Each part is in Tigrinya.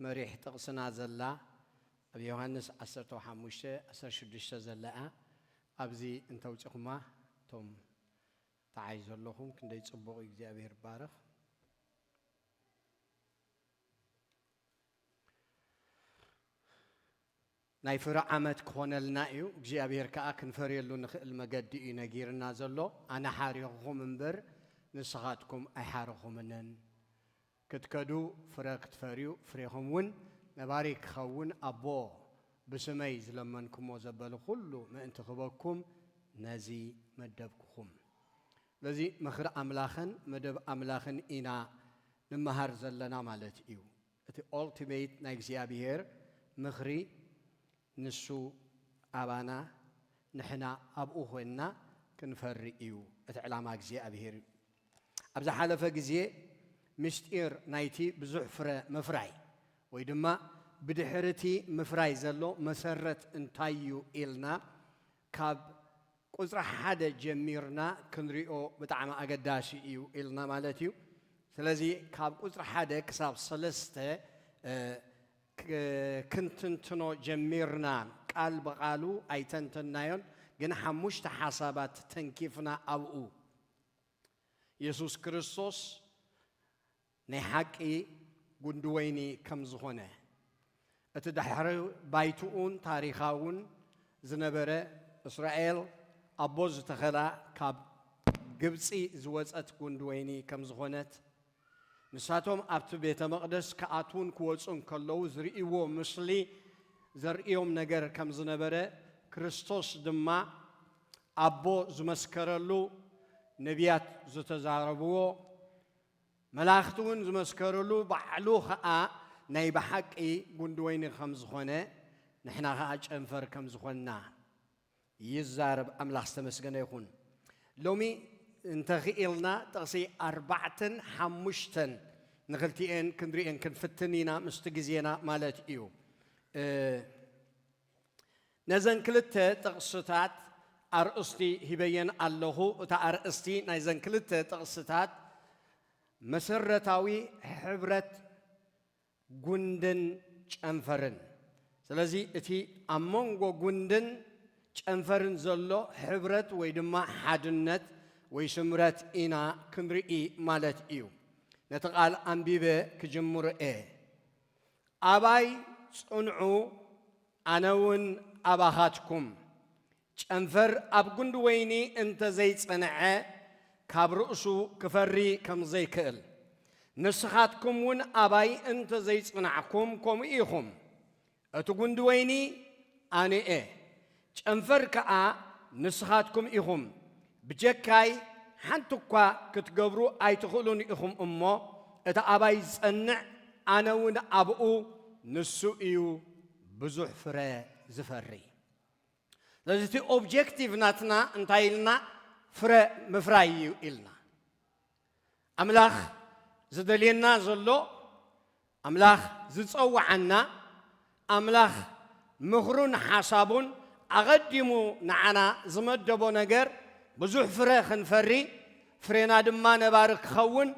መሪሕ ጥቕስና ዘላ ኣብ ዮሃንስ ዓሰርተው ሓሙሽተ ዓሰርተ ሽዱሽተ ዘላ እያ ኣብዚ እንተውጺኹማ እቶም ተዓይ ዘለኹም ክንደይ ጽቡቕ እዩ እግዚኣብሄር ይባረኽ። ናይ ፍረ ዓመት ክኾነልና እዩ እግዚኣብሔር ከኣ ክንፈርየሉ ንኽእል መገዲ እዩ ነጊርና ዘሎ ኣነ ሓሪኹኹም እምበር ንስኻትኩም ኣይሓረኹምንን ክትከዱ ፍረ ክትፈርዩ ፍሬኹም እውን ነባሪ ክኸውን ኣቦ ብስመይ ዝለመንኩሞ ዘበሉ ኩሉ ምእንቲ ክበኩም ነዚ መደብኩኹም ስለዚ ምኽሪ ኣምላኽን መደብ ኣምላኽን ኢና ንመሃር ዘለና ማለት እዩ እቲ Ultimate ናይ እግዚኣብሔር ምኽሪ ንሱ ኣባና ንሕና ኣብኡ ኮይንና ክንፈሪ እዩ እቲ ዕላማ እግዚኣብሔር እዩ። ኣብ ዝሓለፈ ግዜ ምስጢር ናይቲ ብዙሕ ፍረ ምፍራይ ወይ ድማ ብድሕሪ እቲ ምፍራይ ዘሎ መሰረት እንታይ እዩ ኢልና ካብ ቁጽሪ ሓደ ጀሚርና ክንሪኦ ብጣዕሚ ኣገዳሲ እዩ ኢልና ማለት እዩ። ስለዚ ካብ ቁጽሪ ሓደ ክሳብ ሰለስተ ክንትንትኖ ጀሚርና ቃል ብቓሉ ኣይተንተንናዮን ግን ሓሙሽተ ሓሳባት ተንኪፍና ኣብኡ የሱስ ክርስቶስ ናይ ሓቂ ጉንዲ ወይኒ ከም ዝኾነ፣ እቲ ድሕሪ ባይትኡን ታሪኻውን ዝነበረ እስራኤል ኣቦ ዝተኸላ ካብ ግብጺ ዝወጸት ጉንዲ ወይኒ ከም ዝኾነት፣ ንሳቶም ኣብቲ ቤተ መቕደስ ክኣትዉን ክወጹን ከለዉ ዝርእይዎ ምስሊ ዘርእዮም ነገር ከም ዝነበረ ክርስቶስ ድማ ኣቦ ዝመስከረሉ ነብያት ዝተዛረብዎ መላእኽቲ እውን ዝመስከርሉ ባዕሉ ኸኣ ናይ ብሓቂ ጉንዲ ወይኒ ከም ዝኾነ ንሕና ኸኣ ጨንፈር ከም ዝኾንና ይዛረብ ኣምላኽ ዝተመስገነ ይኹን ሎሚ እንተኺኢልና ጥቕሲ ኣርባዕተን ሓሙሽተን ንኽልቲኤን ክንሪኤን ክንፍትን ኢና ምስቲ ግዜና ማለት እዩ። ነዘን ክልተ ጥቕስታት ኣርእስቲ ሂበየን ኣለኹ። እታ ኣርእስቲ ናይዘን ክልተ ጥቕስታት መሰረታዊ ሕብረት ጉንድን ጨንፈርን። ስለዚ እቲ ኣብ መንጎ ጉንድን ጨንፈርን ዘሎ ሕብረት ወይ ድማ ሓድነት ወይ ስምረት ኢና ክንርኢ ማለት እዩ። ነቲ ቃል ኣንቢበ ክጅምር እየ። ኣባይ ጽንዑ ኣነ ውን ኣባኻትኩም። ጨንፈር ኣብ ጉንዲ ወይኒ እንተ ዘይጸንዐ ካብ ርእሱ ክፈሪ ከም ዘይክእል ንስኻትኩም ውን ኣባይ እንተ ዘይጽናዕኩም ከምኡ ኢኹም። እቲ ጉንዲ ወይኒ ኣነ'የ። ጨንፈር ከኣ ንስኻትኩም ኢኹም፣ ብጀካይ ሓንቲ እኳ ክትገብሩ ኣይትኽእሉን ኢኹም እሞ፣ እቲ ኣባይ ዝጸንዕ ኣነውን ኣብኡ፣ ንሱ እዩ ብዙሕ ፍረ ዝፈሪ። ስለዚ እቲ ኦብጀክቲቭ ናትና እንታይ ኢልና ፍረ ምፍራይ እዩ ኢልና። ኣምላኽ ዝደልየና ዘሎ፣ ኣምላኽ ዝጸውዓና፣ ኣምላኽ ምኽሩን ሓሳቡን ኣቐዲሙ ንዓና ዝመደቦ ነገር ብዙሕ ፍረ ክንፈሪ፣ ፍሬና ድማ ነባሪ ክኸውን፣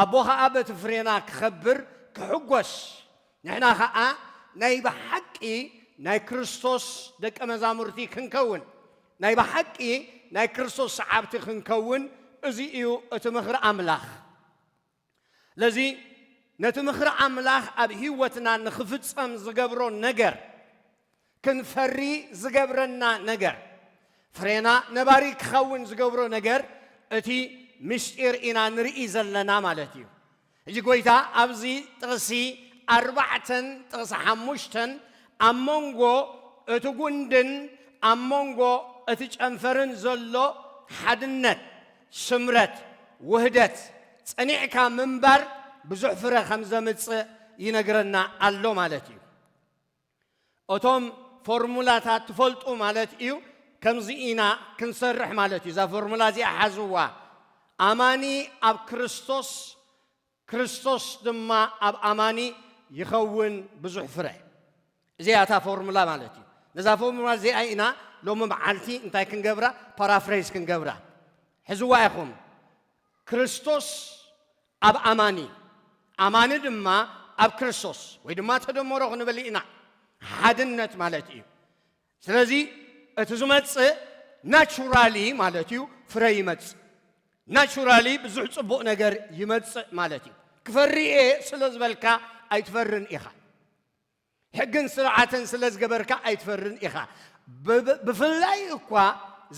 ኣቦ ኸኣ በቲ ፍሬና ክኸብር፣ ክሕጐስ፣ ንሕና ኸኣ ናይ ብሓቂ ናይ ክርስቶስ ደቀ መዛሙርቲ ክንከውን፣ ናይ ብሓቂ ናይ ክርስቶስ ሰዓብቲ ክንከውን፣ እዚ እዩ እቲ ምኽሪ ኣምላኽ። ስለዚ ነቲ ምኽሪ ኣምላኽ ኣብ ህይወትና ንኽፍጸም ዝገብሮ ነገር፣ ክንፈሪ ዝገብረና ነገር፣ ፍሬና ነባሪ ክኸውን ዝገብሮ ነገር እቲ ምሽጢር ኢና ንርኢ ዘለና ማለት እዩ። ሕጂ ጎይታ ኣብዚ ጥቕሲ ኣርባዕተን ጥቕሲ ሓሙሽተን ኣብ መንጎ እቲ ጉንድን ኣብ መንጎ እቲ ጨንፈርን ዘሎ ሓድነት፣ ስምረት፣ ውህደት፣ ጸኒዕካ ምንባር ብዙሕ ፍረ ከም ዘምጽእ ይነግረና ኣሎ ማለት እዩ። እቶም ፎርሙላታት ትፈልጡ ማለት ኢዩ ከምዚ ኢና ክንሰርሕ ማለት ኢዩ እዛ ፎርሙላ እዚኣ ሓዝዋ ኣማኒ ኣብ ክርስቶስ ክርስቶስ ድማ ኣብ ኣማኒ ይኸውን ብዙሕ ፍረ እዚኣ እታ ፎርሙላ ማለት ኢዩ ነዛ ፎርሙላ እዚኣ ኢና ሎሚ መዓልቲ እንታይ ክንገብራ ፓራፍሬዝ ክንገብራ ሕዝዋ ኢኹም ክርስቶስ ኣብ ኣማኒ፣ ኣማኒ ድማ ኣብ ክርስቶስ ወይ ድማ ተደመሮ ክንብል ኢና፣ ሓድነት ማለት እዩ። ስለዚ እቲ ዝመጽእ ናቹራሊ ማለት እዩ ፍረ ይመጽእ። ናቹራሊ ብዙሕ ጽቡቕ ነገር ይመጽእ ማለት እዩ። ክፈሪ እየ ስለ ዝበልካ ኣይትፈርን ኢኻ። ሕግን ስርዓትን ስለ ዝገበርካ ኣይትፈርን ኢኻ። ብፍላይ እኳ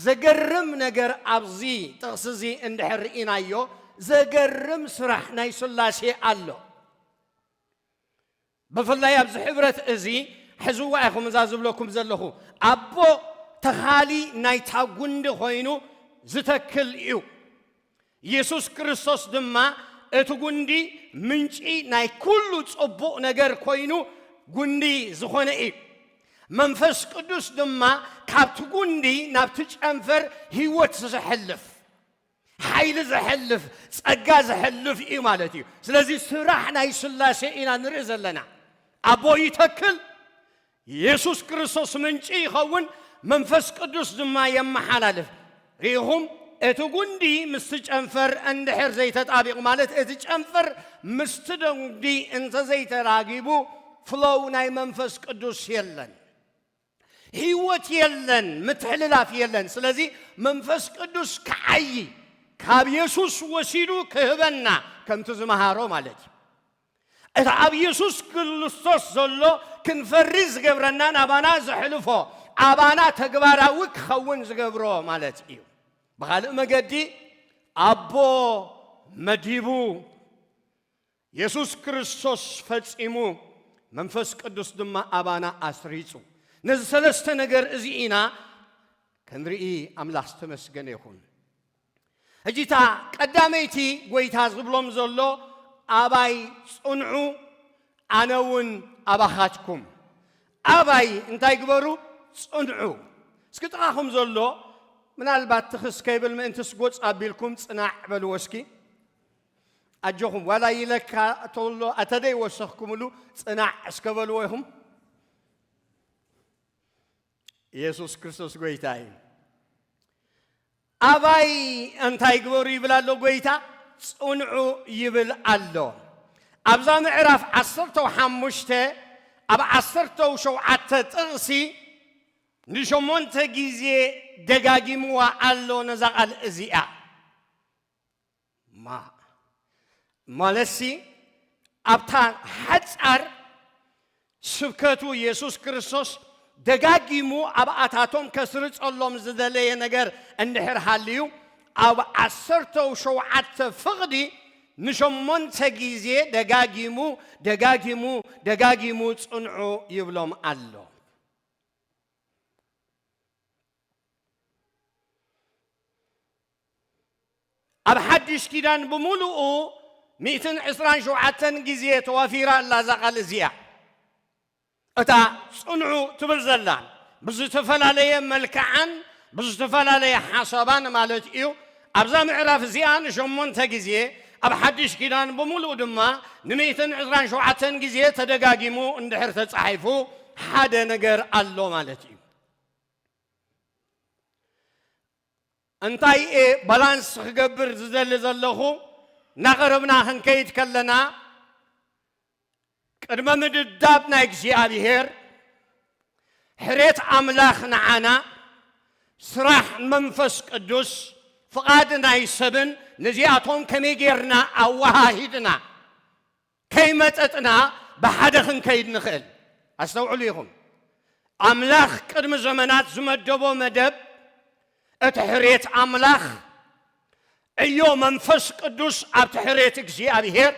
ዘገርም ነገር ኣብዚ ጥቕሲ እዚ እንድሕር ርኢናዮ ዘገርም ስራሕ ናይ ስላሴ ኣሎ። ብፍላይ ኣብዚ ሕብረት እዚ ሕዝዋ ኢኹም እዛ ዝብለኩም ዘለኹ ኣቦ ተኻሊ ናይታ ጉንዲ ኮይኑ ዝተክል እዩ። ኢየሱስ ክርስቶስ ድማ እቲ ጉንዲ ምንጪ ናይ ኩሉ ጽቡቕ ነገር ኮይኑ ጉንዲ ዝኾነ እዩ። መንፈስ ቅዱስ ድማ ካብቲ ጉንዲ ናብቲ ጨንፈር ህይወት ዘሕልፍ ሓይሊ ዘሕልፍ ጸጋ ዘሕልፍ እዩ ማለት እዩ። ስለዚ ስራሕ ናይ ስላሴ ኢና ንርኢ ዘለና። ኣቦ ይተክል፣ የሱስ ክርስቶስ ምንጪ ይኸውን፣ መንፈስ ቅዱስ ድማ የመሓላልፍ። ርኢኹም? እቲ ጕንዲ ምስቲ ጨንፈር እንድሕር ዘይተጣቢቑ፣ ማለት እቲ ጨንፈር ምስቲ ጕንዲ እንተ ዘይተራጊቡ፣ ፍሎው ናይ መንፈስ ቅዱስ የለን። ህይወት የለን፣ ምትሕልላፍ የለን። ስለዚ መንፈስ ቅዱስ ክዓዪ፣ ካብ የሱስ ወሲዱ ክህበና፣ ከምቲ ዝመሃሮ ማለት እዩ። እቲ ኣብ የሱስ ክልስቶስ ዘሎ ክንፈሪ ዝገብረና ናባና ዘሕልፎ ኣባና ተግባራዊ ክኸውን ዝገብሮ ማለት እዩ። ብኻልእ መገዲ ኣቦ መዲቡ፣ የሱስ ክርስቶስ ፈጺሙ፣ መንፈስ ቅዱስ ድማ ኣባና ኣስሪጹ። ነዚ ሰለስተ ነገር እዚ ኢና ክንርኢ ኣምላኽ ዝተመስገነ ይኹን። ሕጂ እታ ቀዳመይቲ ጐይታ ዝብሎም ዘሎ ኣባይ ጽንዑ ኣነ ውን ኣባኻትኩም ኣባይ እንታይ ግበሩ ጽንዑ እስኪ ጥቓኹም ዘሎ ምናልባት ትኽስ ከይብል ምእንትስ ጎጽ ኣቢልኩም ጽናዕ በልዎ እስኪ ኣጆኹም ዋላ ይለካ ተሎ ኣተደይ ወሰኽኩምሉ ጽናዕ እስከ በልዎ ኢኹም ኢየሱስ ክርስቶስ ጎይታ እዩ። ኣባይ እንታይ ግበሩ ይብል ኣሎ ጎይታ ጽንዑ ይብል ኣሎ። ኣብዛ ምዕራፍ ዓሰርተው ሓሙሽተ ኣብ ዓሰርተው ሸውዓተ ጥቕሲ ንሸሞንተ ግዜ ደጋጊምዋ ኣሎ ነዛ ቓል እዚኣ። ማ ማለትሲ ኣብታ ሓጻር ስብከቱ የሱስ ክርስቶስ ደጋጊሙ ኣብ ኣታቶም ከስርጸሎም ዝደለየ ነገር እንድሕር ሃልዩ ኣብ ዓሰርተው ሸውዓተ ፍቕዲ ንሸሞንተ ግዜ ደጋጊሙ ደጋጊሙ ደጋጊሙ ጽንዑ ይብሎም ኣሎ። ኣብ ሓድሽ ኪዳን ብምሉኡ ሚእትን ዕስራን ሸውዓተን ግዜ ተዋፊራ ኣላ እዛ ቃል እዚኣ። እታ ጽንዑ ትብል ዘላ ብዝተፈላለየ መልክዓን ብዝተፈላለየ ሓሳባን ማለት እዩ። ኣብዛ ምዕራፍ እዚኣ ንሸሞንተ ግዜ ኣብ ሓድሽ ኪዳን ብምሉኡ ድማ ንሚእትን ዕስራን ሸውዓተን ግዜ ተደጋጊሙ እንድሕር ተጻሒፉ ሓደ ነገር ኣሎ ማለት እዩ። እንታይ እየ ባላንስ ክገብር ዝደሊ ዘለኹ እናቐረብና ክንከይድ ከለና ቅድመ ምድዳብ ናይ እግዚኣብሔር ሕሬት ኣምላኽ ንዓና ስራሕ መንፈስ ቅዱስ ፍቓድ ናይ ሰብን ነዚኣቶም ከመይ ጌርና ኣወሃሂድና ከይመጠጥና ብሓደ ክንከይድ ንኽእል። ኣስተውዕሉ ኢኹም፣ ኣምላኽ ቅድሚ ዘመናት ዝመደቦ መደብ፣ እቲ ሕርየት ኣምላኽ፣ ዕዮ መንፈስ ቅዱስ ኣብቲ ሕርየት እግዚኣብሔር፣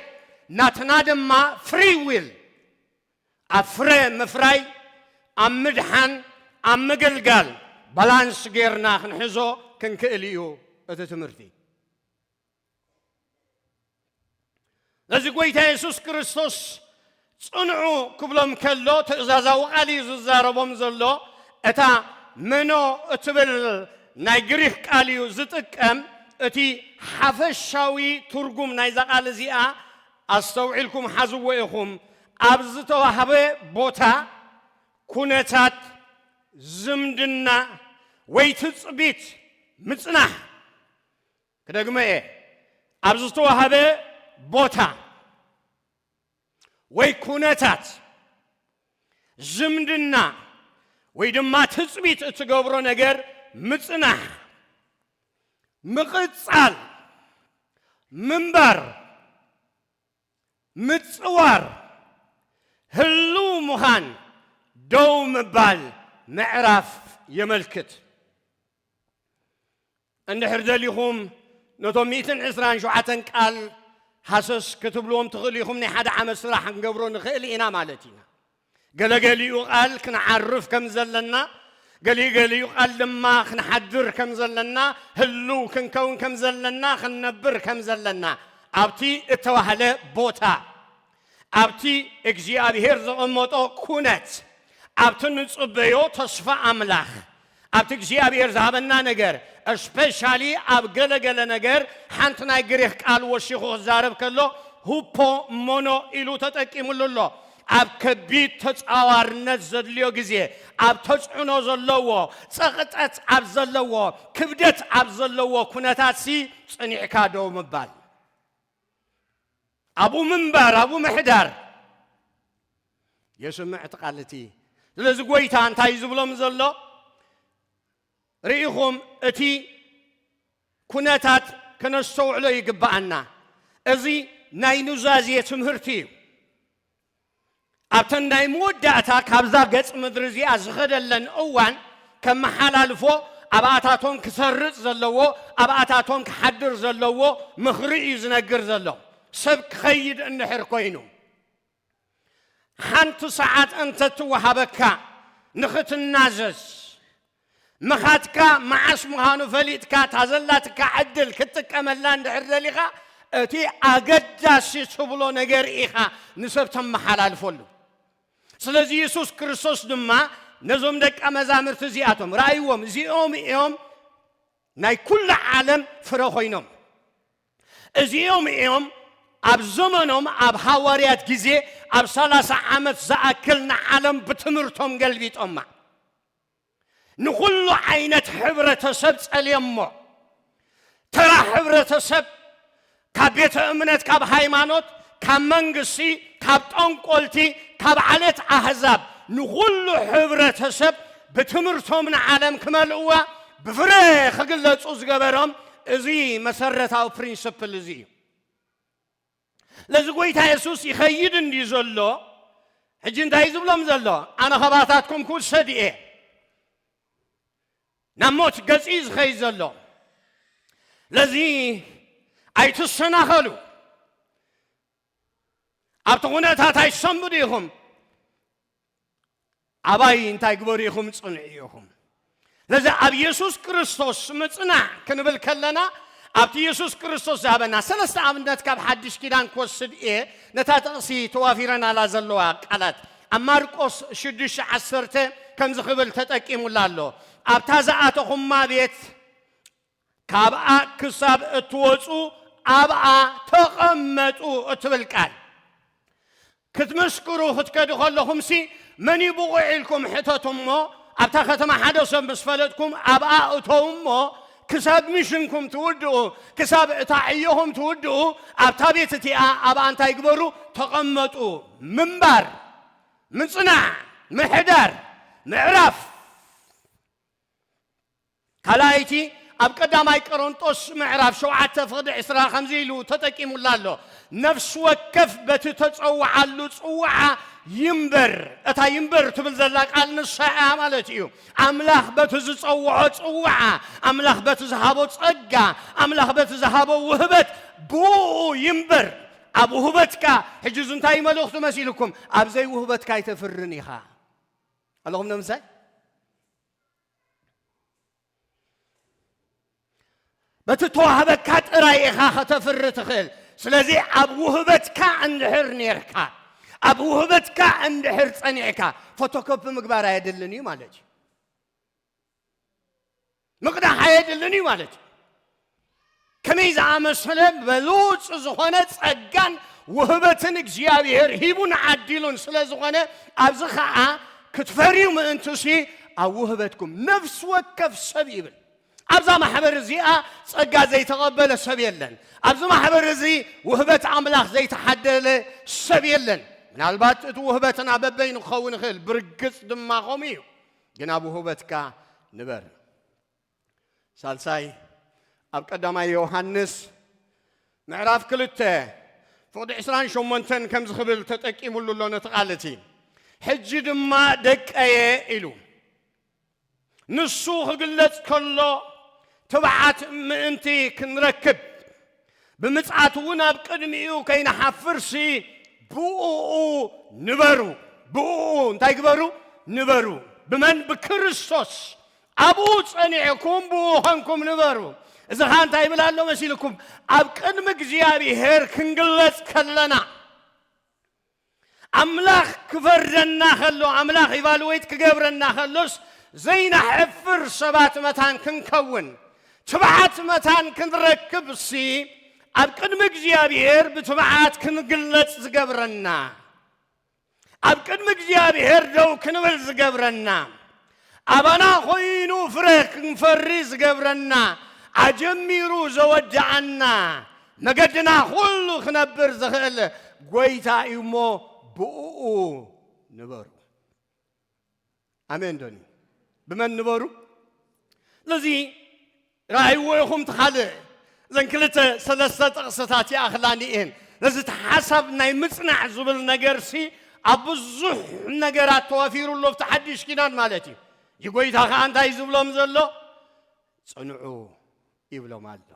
ናትና ድማ ፍሪ ዊል ኣብ ፍረ ምፍራይ፣ ኣብ ምድሓን፣ ኣብ ምግልጋል ባላንስ ጌርና ክንሕዞ ክንክእል እዩ እቲ ትምህርቲ። ነዚ ጎይታ የሱስ ክርስቶስ ጽንዑ ክብሎም ከሎ ትእዛዛዊ ቃል እዩ ዝዛረቦም ዘሎ እታ መኖ እትብል ናይ ግሪክ ቃል እዩ ዝጥቀም እቲ ሓፈሻዊ ትርጉም ናይዛ ቃል እዚኣ ኣስተውዒልኩም ሓዝዎ ኢኹም ኣብ ዝተዋህበ ቦታ ኩነታት ዝምድና ወይ ትጽቢት ምጽናሕ ክደግሞ እየ፣ ኣብ ዝተዋህበ ቦታ ወይ ኩነታት ዝምድና ወይ ድማ ትፅቢት እትገብሮ ነገር ምፅናሕ፣ ምቕፃል፣ ምንባር፣ ምፅዋር፣ ህልው ምዃን፣ ደው ምባል፣ ምዕራፍ የመልክት። እንድሕር ደሊኹም ነቶም ሚእትን ዕስራን ሸውዓተን ቃል ሃሰስ ክትብልዎም ትኽእሉ ኢኹም፣ ናይ ሓደ ዓመት ስራሕ ክንገብሮ ንኽእል ኢና ማለት ኢና። ገለ ገሊኡ ቃል ክንዓርፍ ከም ዘለና፣ ገሊኡ ገሊኡ ቃል ድማ ክንሓድር ከም ዘለና፣ ህሉው ክንከውን ከም ዘለና፣ ክንነብር ከም ዘለና ኣብቲ እተባህለ ቦታ ኣብቲ እግዚኣብሄር ዘቐመጦ ኩነት፣ ኣብቲ ንጽበዮ ተስፋ ኣምላኽ፣ ኣብቲ እግዚኣብሄር ዝሃበና ነገር፣ እስፔሻሊ ኣብ ገለ ገለ ነገር ሓንቲ ናይ ግሪኽ ቃል ወሲኹ ክዛረብ ከሎ ሁፖ ሞኖ ኢሉ ተጠቂምሉ ኣሎ። ኣብ ከቢድ ተጻዋርነት ዘድልዮ ግዜ፣ ኣብ ተጽዕኖ ዘለዎ፣ ጸቕጠት ኣብ ዘለዎ፣ ክብደት ኣብ ዘለዎ ኩነታትሲ ጽኒዕካ ደው ምባል። ኣብኡ ምንባር፣ ኣብኡ ምሕዳር የስምዕ እቲ ቃል እቲ። ስለዚ ጎይታ እንታይ እዩ ዝብሎም ዘሎ? ርኢኹም እቲ ኩነታት ከነስተውዕሎ ይግብኣና። እዚ ናይ ኑዛዜ ትምህርቲ እዩ። ኣብተን ናይ መወዳእታ ካብዛ ገጽ ምድሪ እዚኣ ዝኸደለን እዋን ከመሓላልፎ ኣብኣታቶም ክሰርጽ ዘለዎ ኣብኣታቶም ክሓድር ዘለዎ ምኽሪ እዩ ዝነግር ዘሎ ሰብ ክኸይድ እንድሕር ኮይኑ ሓንቲ ሰዓት እንተትወሃበካ ንኽትናዘዝ ምኻድካ መዓስ ምዃኑ ፈሊጥካ እታ ዘላትካ ዕድል ክትጥቀመላ እንድሕር ደሊኻ እቲ ኣገዳሲ ትብሎ ነገር ኢኻ ንሰብ ተመሓላልፈሉ። ስለዚ የሱስ ክርስቶስ ድማ ነዞም ደቀ መዛሙርቲ እዚኣቶም ርኣይዎም፣ እዚኦም እዮም ናይ ኩሉ ዓለም ፍረ ኮይኖም፣ እዚኦም እዮም ኣብ ዘመኖም ኣብ ሃዋርያት ግዜ ኣብ ሰላሳ ዓመት ዝኣክል ንዓለም ብትምህርቶም ገልቢጦማ። ንኹሉ ዓይነት ሕብረተሰብ ጸልየሞ። ተራ ሕብረተሰብ ካብ ቤተ እምነት፣ ካብ ሃይማኖት፣ ካብ መንግስቲ፣ ካብ ጠንቆልቲ፣ ካብ ዓሌት ኣህዛብ ንኹሉ ሕብረተሰብ ብትምህርቶም ንዓለም ክመልእዋ ብፍረ ክግለጹ ዝገበሮም እዚ መሰረታዊ ፕሪንስፕል እዚ እዩ። ስለዚ ጎይታ የሱስ ይኸይድ እንድዩ ዘሎ፣ ሕጂ እንታይ እዩ ዝብሎም ዘሎ? ኣነ ኸባታትኩም ክውሰድ እየ። ናብ ሞት ገጽ እዩ ዝኸይድ ዘሎ። ስለዚ ኣይትሰናኸሉ፣ ኣብቲ ዅነታት ኣይትሰንብዱ ኢኹም። ኣባይ እንታይ ግበሩ ኢኹም ጽንዑ ኢኹም። ስለዚ ኣብ የሱስ ክርስቶስ ምጽናዕ ክንብል ከለና ኣብቲ የሱስ ክርስቶስ ዝሃበና ሰለስተ ኣብነት ካብ ሓድሽ ኪዳን ክወስድ እየ ነታ ጥቕሲ ተዋፊረናላ ዘለዋ ቃላት ኣብ ማርቆስ ሽዱሽተ ዓሰርተ ከምዚ ክብል ተጠቂሙላ ኣሎ ኣብታ ዝኣተኹማ ቤት ካብኣ ክሳብ እትወጹ ኣብኣ ተቐመጡ እትብል ቃል፣ ክትምስክሩ ክትከዱ ከለኹምሲ መን እዩ ብቑዕ ኢልኩም ሕተቱ እሞ፣ ኣብታ ከተማ ሓደ ሰብ ምስ ፈለጥኩም ኣብኣ እተዉ እሞ፣ ክሳብ ሚሽንኩም ትውድኡ፣ ክሳብ እታ ዕዮኹም ትውድኡ ኣብታ ቤት እቲኣ ኣብኣ እንታይ ግበሩ? ተቐመጡ። ምንባር፣ ምጽናዕ፣ ምሕዳር፣ ምዕራፍ። ካልኣይቲ ኣብ ቀዳማይ ቀረንጦስ ምዕራፍ ሸውዓተ ፍቕዲ ዕስራ ከምዚ ኢሉ ተጠቂሙላ ኣሎ፣ ነፍሲ ወከፍ በቲ እተጸውዓሉ ጽውዓ ይንበር። እታ ይንበር ትብል ዘላ ቃል ንሳ እያ ማለት እዩ። ኣምላኽ በቲ ዝጸውዖ ጽውዓ፣ ኣምላኽ በቲ ዝሃቦ ጸጋ፣ ኣምላኽ በቲ ዝሃቦ ውህበት ብእኡ ይንበር። ኣብ ውህበትካ ሕጂ እዚ እንታይ መልእኽቱ መሲልኩም ኣብ ዘይውህበትካ ኣይተፍርን ኢኻ ኣለኹም ነምሳይ በቲ ተዋህበካ ጥራይ ኢኻ ከተፍሪ ትኽእል ስለዚ ኣብ ውህበትካ እንድሕር ነርካ ኣብ ውህበትካ እንድሕር ጸኒዕካ ፎቶኮፒ ምግባር ኣየድልን እዩ ማለት እዩ ምቕዳሕ ኣየድልን እዩ ማለት እዩ ከመይ ዝኣመሰለ በሉጽ ዝኾነ ጸጋን ውህበትን እግዚኣብሄር ሂቡን ዓዲሉን ስለ ዝኾነ ኣብዚ ኸኣ ክትፈርዩ ምእንትሲ ኣብ ውህበትኩም ነፍሲ ወከፍ ሰብ ይብል ኣብዛ ማሕበር እዚኣ ጸጋ ዘይተቐበለ ሰብ የለን ኣብዚ ማሕበር እዚ ውህበት ኣምላኽ ዘይተሓደለ ሰብ የለን ምናልባት እቲ ውህበትና በበይኑ ክኸውን ይኽእል ብርግጽ ድማ ከምኡ እዩ ግን ኣብ ውህበትካ ንበር ሳልሳይ ኣብ ቀዳማይ ዮሃንስ ምዕራፍ ክልተ ፍቕዲ ዕስራን ሸሞንተን ከም ዝኽብል ተጠቂሙሉ ኣሎ ነቲ ቃል እቲ ሕጂ ድማ ደቀየ ኢሉ ንሱ ክግለጽ ከሎ ትብዓት ምእንቲ ክንረክብ ብምጽኣት እውን ኣብ ቅድሚኡ ከይንሓፍርሲ ብኡኡ ንበሩ ብኡ እንታይ ግበሩ ንበሩ ብመን ብክርስቶስ ኣብኡ ጸኒዕኩም ብእኡ ኸንኩም ንበሩ። እዚ ኸኣ እንታይ ይብል ኣሎ መሲልኩም? ኣብ ቅድሚ እግዚኣብሄር ክንግለጽ ከለና፣ ኣምላኽ ክፈርደና ኸሎ፣ ኣምላኽ ኢቫሉዌት ክገብረና ኸሎስ፣ ዘይነሕፍር ሰባት መታን ክንከውን፣ ትብዓት መታን ክንረክብሲ፣ ኣብ ቅድሚ እግዚኣብሄር ብትብዓት ክንግለጽ ዝገብረና፣ ኣብ ቅድሚ እግዚኣብሔር ደው ክንብል ዝገብረና ኣባና ኮይኑ ፍረ ክንፈሪ ዝገብረና ኣጀሚሩ ዘወድኣና መገድና ኩሉ ክነብር ዝኽእል ጎይታ እዩ እሞ ብእኡ ንበሩ። ኣሜን ዶኒ ብመን ንበሩ ስለዚ ራእይዎ ይኹም ትኻልእ እዘን ክልተ ሰለስተ ጥቕስታት ይኣኽላኒ እየን ነዚ እቲ ሓሳብ ናይ ምጽናዕ ዝብል ነገርሲ ኣብ ብዙሕ ነገራት ተዋፊሩ ኣሎ ኣብቲ ሓድሽ ኪዳን ማለት እዩ እዚ ጎይታ ከዓ እንታይ ዝብሎም ዘሎ ጽንዑ ይብሎም ኣሎ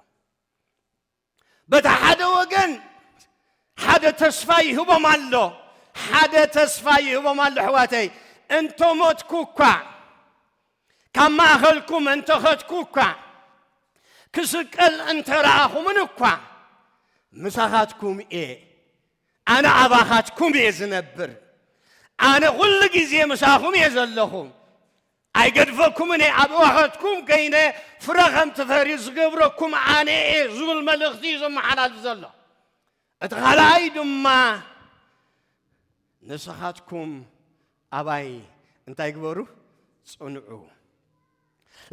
በታ ሓደ ወገን ሓደ ተስፋ ይህቦም ኣሎ ሓደ ተስፋ ይህቦም ኣሎ ኣሕዋተይ እንተ ሞትኩ እኳ ካብ ማእኸልኩም እንተኸትኩ እኳ ክስቀል እንተረኣኹምን እኳ ምሳኻትኩም እየ ኣነ ኣባኻትኩም እየ ዝነብር ኣነ ኩሉ ግዜ ምሳኹም እየ ዘለኹ ኣይገድፈኩምን እየ፣ ኣብ እዋኸትኩም ከይነ ፍረ ከም ትፈርዩ ዝገብረኩም ኣነ እየ ዝብል መልእኽቲ እዩ ዘመሓላልፍ ዘሎ። እቲ ካልኣይ ድማ ንስኻትኩም ኣባይ እንታይ ግበሩ ጽንዑ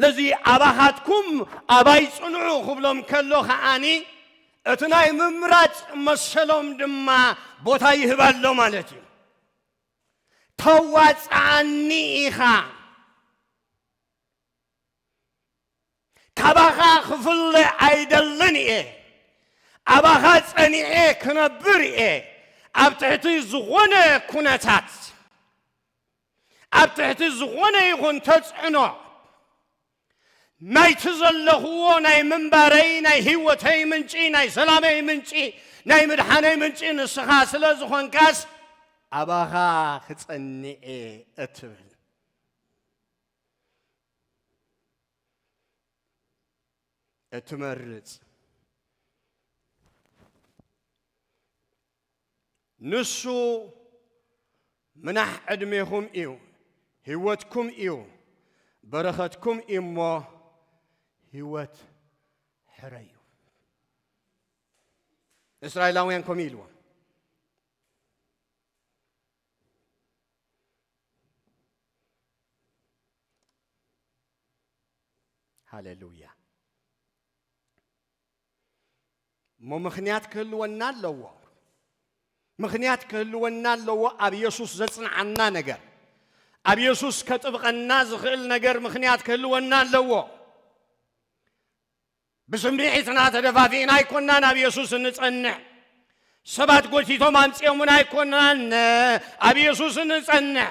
ለዚ ኣባኻትኩም ኣባይ ጽንዑ ክብሎም ከሎ ከዓኒ እቲ ናይ ምምራጽ መሰሎም ድማ ቦታ ይህብ ኣሎ ማለት እዩ ተዋጽኣኒ ኢኻ ካባኻ ክፍለ ኣይደልን እየ ኣባኻ ጸኒዐ ክነብር እየ ኣብ ትሕቲ ዝኾነ ኩነታት ኣብ ትሕቲ ዝኾነ ይኹን ተጽዕኖ ናይቲ ዘለኹዎ ናይ ምንባረይ ናይ ህይወተይ ምንጪ ናይ ሰላመይ ምንጪ ናይ ምድሓነይ ምንጪ ንስኻ ስለ ዝኾንካስ ኣባኻ ክጸኒኤ እትብል እትመርጽ ንሱ ምናሕ ዕድሜኹም እዩ፣ ህይወትኩም እዩ፣ በረኸትኩም እዩ እሞ ህይወት ሕረዩ። እስራኤላውያን ከምኡ ኢልዎም ሃሌሉያ እሞ ምኽንያት ክህልወና ኣለዎ። ምኽንያት ክህልወና ኣለዎ ኣብ የሱስ ዘጽንዓና ነገር ኣብ የሱስ ከጥብቐና ዝኽእል ነገር ምኽንያት ክህልወና ኣለዎ። ብስምዒትና ተደፋፊእና ኣይኮናን ኣብ የሱስ እንጸንዕ ሰባት ጎቲቶም ኣምጺኦምና ኣይኮናን ኣብ የሱስ እንጸንዕ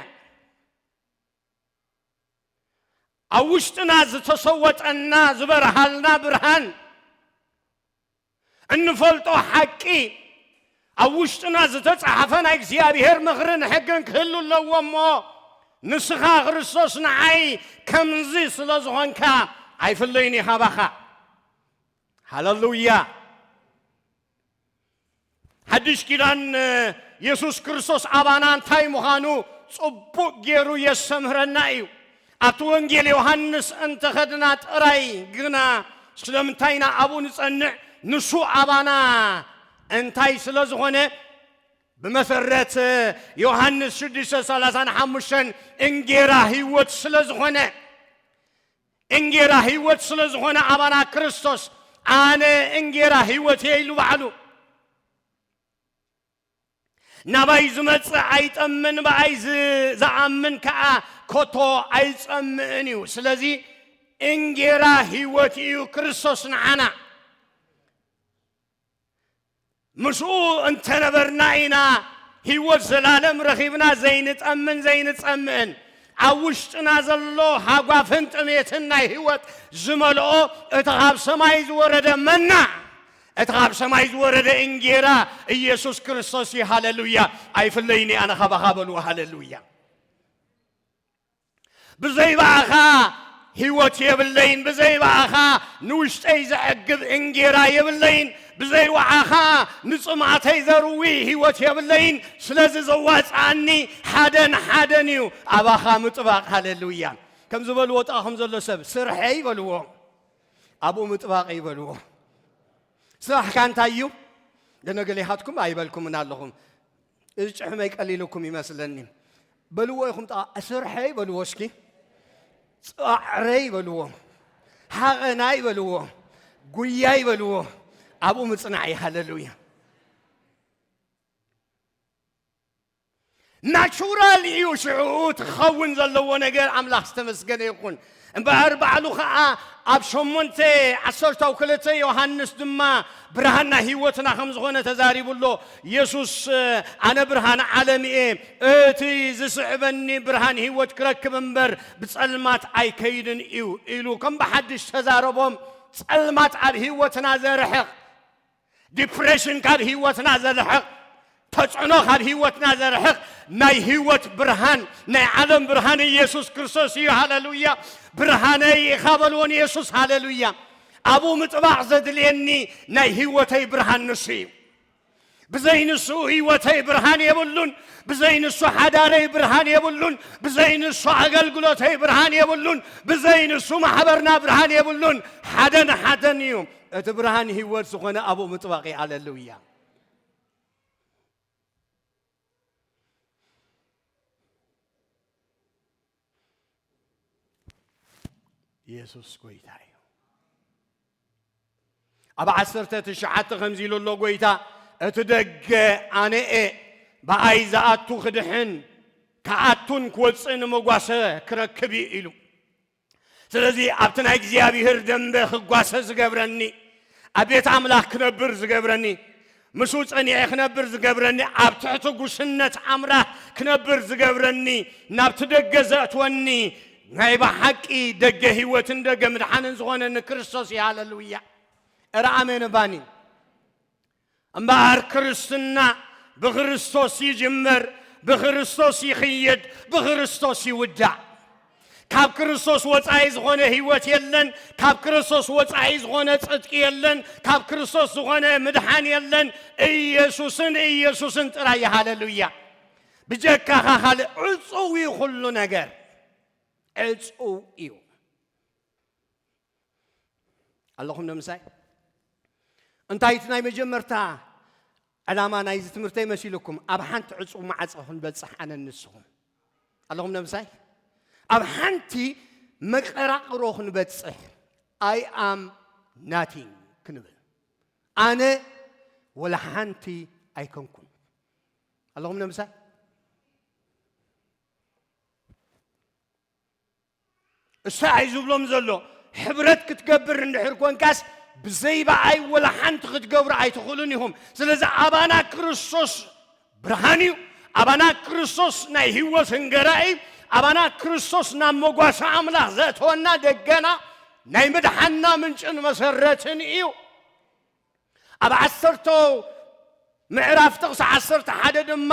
ኣብ ውሽጥና ዝተሰወጠና ዝበርሃልና ብርሃን እንፈልጦ ሓቂ ኣብ ውሽጥና ዝተጻሕፈ ናይ እግዚኣብሔር ምኽርን ሕግን ክህሉ ኣለዎ እሞ ንስኻ ክርስቶስ ንዓይ ከምዚ ስለ ዝኾንካ ኣይፍለይን እዩ ሃባኻ ሃለሉያ ሓድሽ ኪዳን የሱስ ክርስቶስ ኣባና እንታይ ምዃኑ ጽቡቕ ገይሩ የስተምህረና እዩ። ኣብቲ ወንጌል ዮሃንስ እንተ ኸድና ጥራይ ግና ስለምንታይ ኢና ኣብኡ ንጸንዕ? ንሱ ኣባና እንታይ ስለ ዝኾነ? ብመሰረት ዮሃንስ ሽዱሽተ ሰላሳን ሓሙሽተን እንጌራ ህይወት ስለ ዝኾነ እንጌራ ህይወት ስለ ዝኾነ ኣባና ክርስቶስ ኣነ እንጌራ ህይወት እየ ኢሉ ባዕሉ ናባይ ዝመጽእ ኣይጠምን ብኣይ ዝኣምን ከዓ ኮቶ ኣይጸምእን እዩ ስለዚ እንጌራ ህይወት እዩ ክርስቶስ ንዓና ምስኡ እንተ ነበርና ኢና ህይወት ዘላለም ረኺብና ዘይንጠምን ዘይንጸምእን። ኣብ ውሽጥና ዘሎ ሃጓፍን ጥሜትን ናይ ህይወት ዝመልኦ እቲ ኻብ ሰማይ ዝወረደ መና፣ እቲ ኻብ ሰማይ ዝወረደ እንጌራ ኢየሱስ ክርስቶስ እዩ። ሃለሉያ! ኣይፍለይን'የ ኣነ ኻባኻ በሉ። ሃለሉያ! ብዘይ ብኣኻ ህይወት የብለይን፣ ብዘይ ብኣኻ ንውሽጠይ ዘዕግብ እንጌራ የብለይን፣ ብዘይ ውዓኻ ንጽምኣተይ ዘርዊ ህይወት የብለይን። ስለዚ ዘዋጽኣኒ ሓደን ሓደን እዩ፣ ኣባኻ ምጥባቕ። ሃሌሉያ! ከም ዝበልዎ ጥቓኹም ዘሎ ሰብ ስርሐይ በልዎ፣ ኣብኡ ምጥባቐይ በልዎ። ስራሕካ እንታይ እዩ? ገነገሌኻትኩም ኣይበልኩምን ኣለኹም እዚ ጭሕመይ ቀሊሉኩም ይመስለኒ በልዎ ኢኹም ጠቓ ስርሐይ በልዎ እስኪ ፃዕረይ በልዎ ሃቐናይ በልዎ ጉያይ በልዎ ኣብኡ ምፅናዕ እዩ ሃለሉያ ናቹራል እዩ ሽዑ እቲ ክኸውን ዘለዎ ነገር ኣምላኽ ዝተመስገነ ይኹን እምበኣር ባዕሉ ኸኣ ኣብ ሸሞንተ ዓሰርታው ክልተ ዮሃንስ ድማ ብርሃን ናይ ህይወትና ከም ዝኾነ ተዛሪቡ ኣሎ። የሱስ ኣነ ብርሃን ዓለም እየ፣ እቲ ዝስዕበኒ ብርሃን ህይወት ክረክብ እምበር ብጸልማት ኣይከይድን እዩ ኢሉ ከም ብሓድሽ ተዛረቦም። ጸልማት ኣብ ህይወትና ዘርሕቕ፣ ዲፕሬሽን ካብ ህይወትና ዘርሕቕ ተጽዕኖ ካብ ህይወትና ዘርሕቕ ናይ ህይወት ብርሃን ናይ ዓለም ብርሃን ኢየሱስ ክርስቶስ እዩ ሃለሉያ ብርሃነይ ኢኻ በልዎ ንየሱስ ሃለሉያ ኣብኡ ምጥባቕ ዘድልየኒ ናይ ህይወተይ ብርሃን ንሱ እዩ ብዘይ ንሱ ህይወተይ ብርሃን የብሉን ብዘይ ንሱ ሓዳረይ ብርሃን የብሉን ብዘይ ንሱ ኣገልግሎተይ ብርሃን የብሉን ብዘይ ንሱ ማሕበርና ብርሃን የብሉን ሓደን ሓደን እዩ እቲ ብርሃን ህይወት ዝኾነ ኣብኡ ምጥባቕ እዩ። ኣለሉያ። ኢየሱስ ጎይታ እዩ። ኣብ ዓሰርተ ትሽዓተ ከምዚ ኢሉ ኣሎ ጎይታ እቲ ደገ ኣነ እየ ብኣይ ዝኣቱ ክድሕን ክኣቱን ክወፅእን መጓሰ ክረክብ እዩ ኢሉ ስለዚ ኣብቲ ናይ እግዚኣብሔር ደንበ ክጓሰ ዝገብረኒ፣ ኣብ ቤት ኣምላኽ ክነብር ዝገብረኒ፣ ምስኡ ጸኒዔ ክነብር ዝገብረኒ፣ ኣብ ትሕቲ ጉስነት ኣምላኽ ክነብር ዝገብረኒ፣ ናብቲ ደገ ዘእትወኒ ናይ ብሓቂ ደገ ህይወትን ደገ ምድሓንን ዝኾነኒ ክርስቶስ እዩ። ሃለሉያ! እረ ኣሜን ባኒ እምበኣር ክርስትና ብክርስቶስ ይጅምር፣ ብክርስቶስ ይኽየድ፣ ብክርስቶስ ይውዳእ። ካብ ክርስቶስ ወፃኢ ዝኾነ ህይወት የለን፣ ካብ ክርስቶስ ወፃኢ ዝኾነ ፅድቂ የለን፣ ካብ ክርስቶስ ዝኾነ ምድሓን የለን። ኢየሱስን ኢየሱስን ጥራይ እዩ። ሃለሉያ! ብጀካኻ ካልእ ዕፁው እዩ፣ ኩሉ ነገር ዕፁው እዩ። ኣለኹም ዶ ምሳይ? እንታይ እቲ ናይ መጀመርታ ዕላማ ናይዚ ትምህርተይ መሲሉኩም ኣብ ሓንቲ ዕፁብ ማዕፀ ክንበፅሕ ኣነ ንስኹም ኣለኹም ዶ ምሳይ? ኣብ ሓንቲ መቀራቅሮ ክንበፅሕ ኣይ ኣም ናቲንግ ክንብል ኣነ ወላ ሓንቲ ኣይኮንኩን ኣለኹም ዶ ምሳይ? እሳይ ዝብሎም ዘሎ ሕብረት ክትገብር እንድሕር ኮንካስ ብዘይ በኣይ ወላ ሓንቲ ክትገብሩ ኣይትኽእሉን ኢኹም። ስለዚ ኣባና ክርስቶስ ብርሃን እዩ፣ ኣባና ክርስቶስ ናይ ህይወት እንገራ እዩ፣ ኣባና ክርስቶስ ናብ መጓሰ ኣምላኽ ዘእተወና ደገና ናይ ምድሓንና ምንጭን መሰረትን እዩ። ኣብ ዓሰርቶ ምዕራፍ ጥቕሲ ዓሰርተ ሓደ ድማ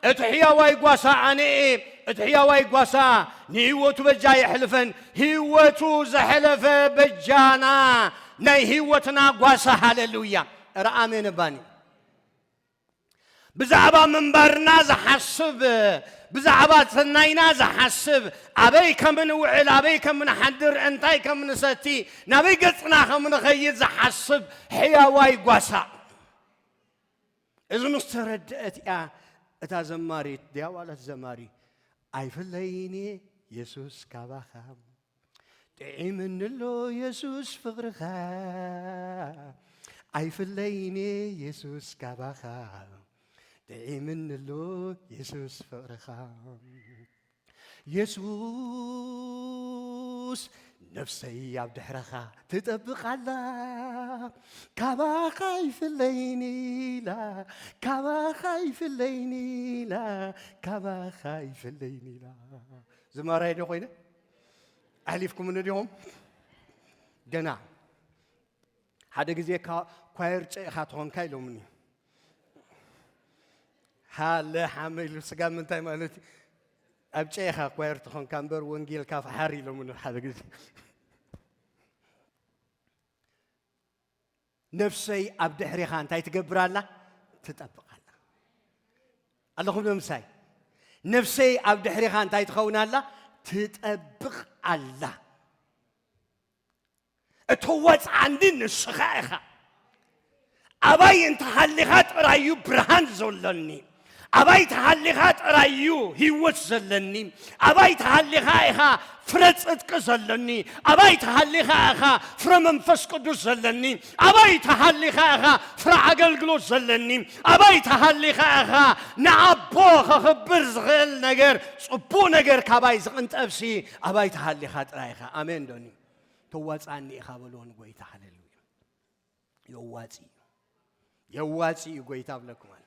እቲ ሕያዋይ ጓሳ ኣነ'የ፣ እቲ ሕያዋይ ጓሳ ንህይወቱ በጃ ኣየሕልፈን፣ ህይወቱ ዘሐለፈ በጃና ናይ ህይወትና ጓሳ ሃለሉያ። እረ ኣሜን እባኒ። ብዛዕባ ምንባርና ዝሓስብ፣ ብዛዕባ ሰናይና ዝሓስብ፣ ኣበይ ከም እንውዕል፣ ኣበይ ከም እንሓድር፣ እንታይ ከም እንሰቲ፣ ናበይ ገጽና ከም እንኸይድ ዝሓስብ ሕያዋይ ጓሳ። እዚ ምስ ተረድአት እያ እታ ዘማሪት ድያ ዋላ እቲ ዘማሪ ኣይፍለይን እየ የሱስ ካባኻ ጥዒምኒሎ የሱስ ፍቅርኻ ኣይፍለይንየ የሱስ ካባኻ ጥዒምኒሎ የሱስ ፍቅርኻ የሱስ ነፍሰይ ኣብ ድሕረኻ ትጠብቃላ ካባኻ ይፍለይኒላ ካባኻ ይፍለይኒላ ካባኻ ይፍለይኒላ ዝማራይ ዶ ኮይነ ኣሕሊፍኩምኒ ዲኹም ገና ሓደ ግዜ ኳየር ጨኢኻ ትኾንካ ኢሎምኒ ሃለ ሓመ ኢሉ ስጋ ምንታይ ማለት እዩ ኣብ ጨኢኻ ኳየር ትኾንካ እምበር ወንጌልካ ፈሓር ኢሎምኒ ሓደ ግዜ ነፍሰይ ኣብ ድሕሪኻ እንታይ ትገብር ኣላ? ትጠብቕ ኣላ። ኣለኹም ዶ ምሳይ? ነፍሰይ ኣብ ድሕሪኻ እንታይ ትኸውን ኣላ? ትጠብቕ ኣላ። እተወፅዓኒ ንስኻ ኢኻ። ኣባይ እንተሃሊኻ ጥራይ እዩ ብርሃን ዘሎኒ። ኣባይታ ሃሊኻ ጥራይ እዩ ህይወት ዘለኒ፣ ኣባይታ ሃሊኻ ኢኻ ፍረ ጽድቂ ዘለኒ፣ ኣባይታ ሃሊኻ ኢኻ ፍረ መንፈስ ቅዱስ ዘለኒ፣ ኣባይታ ሃሊኻ ኢኻ ፍረ ኣገልግሎት ዘለኒ፣ ኣባይታ ሃሊኻ ኢኻ ንኣቦ ከኽብር ዝኽእል ነገር ጽቡቕ ነገር ካባይ ዝቕንጠብሲ ኣባይታ ሃሊኻ ጥራይ ኢኻ። ኣሜን ዶኒ ተዋጻኒ ኢኻ በልዎ ንጎይታ ሃሌሉያ። የዋፂ እዩ የዋፂ እዩ ጎይታ ብለኩም ኣሎ